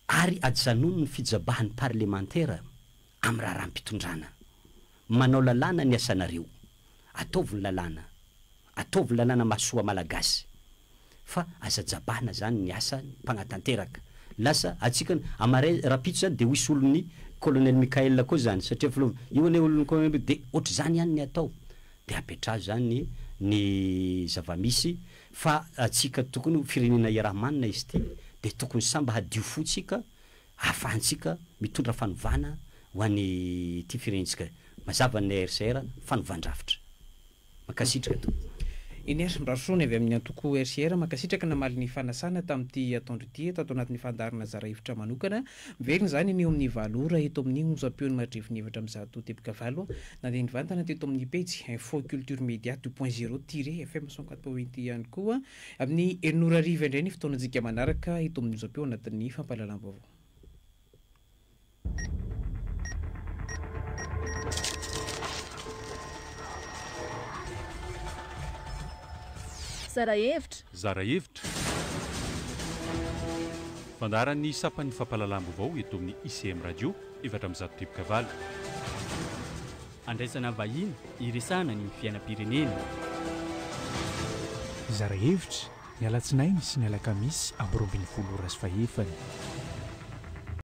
ary ajanony ny fijabahan'ny parlemantera amin'ny raharaham-pitondrana. Manao lalàna ny asanareo. Ataovy ny lalàna. Ataovy ny lalàna mahasoa Malagasy. Fa aza jabahana izany ny asa mpanatanteraka. Lasa antsika ny, amin'ny marais rahampitso izany dia ho hisy olon'ny Colonel Mickaël koa izany, satria filoha, io anie olon'ny Colonel, dia ohatr'izany ihany ny atao. Dia apetraho izany ny zava-misy fa antsika tokony ho firenena iaraha-manana izy ity, dia tokony samba hadio fo-tsika ahafahantsika mitondra fanovana ho an'ity firenentsika mazava ny HCR fanovan-drafitra. Mankasitraka tompoko. Inera Mbarosoany avy amin'ny antoko HCR mankasitraka namaly ny fanasana tamin'ity atoandro ity eto ato anatin'ny fandaharana Zara Hevitra Manokana. Miverina izany ny eo amin'ny valo ora eto amin'ny onjam-peo ny Maridrefon'ny Hevitra amin'ny zato teboka valo. Nandeha nivantana teto amin'ny pejy Info Culture Media deux point zero tiret FM cent quatre point huit ihany koa Amin'ny enina ora hariva indray ny fotoanantsika manaraka eto amin'ny Onjam-peo anatin'ny fampahalalam-baovao. Zara hevitra! Zara hevitra! Fandaharan'ny sampan'ny fampahalalam-baovao eto amin'ny ICM Radio, efatra amby zato driboka valo. Handraisana vahiny hiresahana ny fiainam-pirenena. Hizara hevitra, ny alatsinainy sy ny alakamisy amby roa ambin'ny folo ora sy fahefany.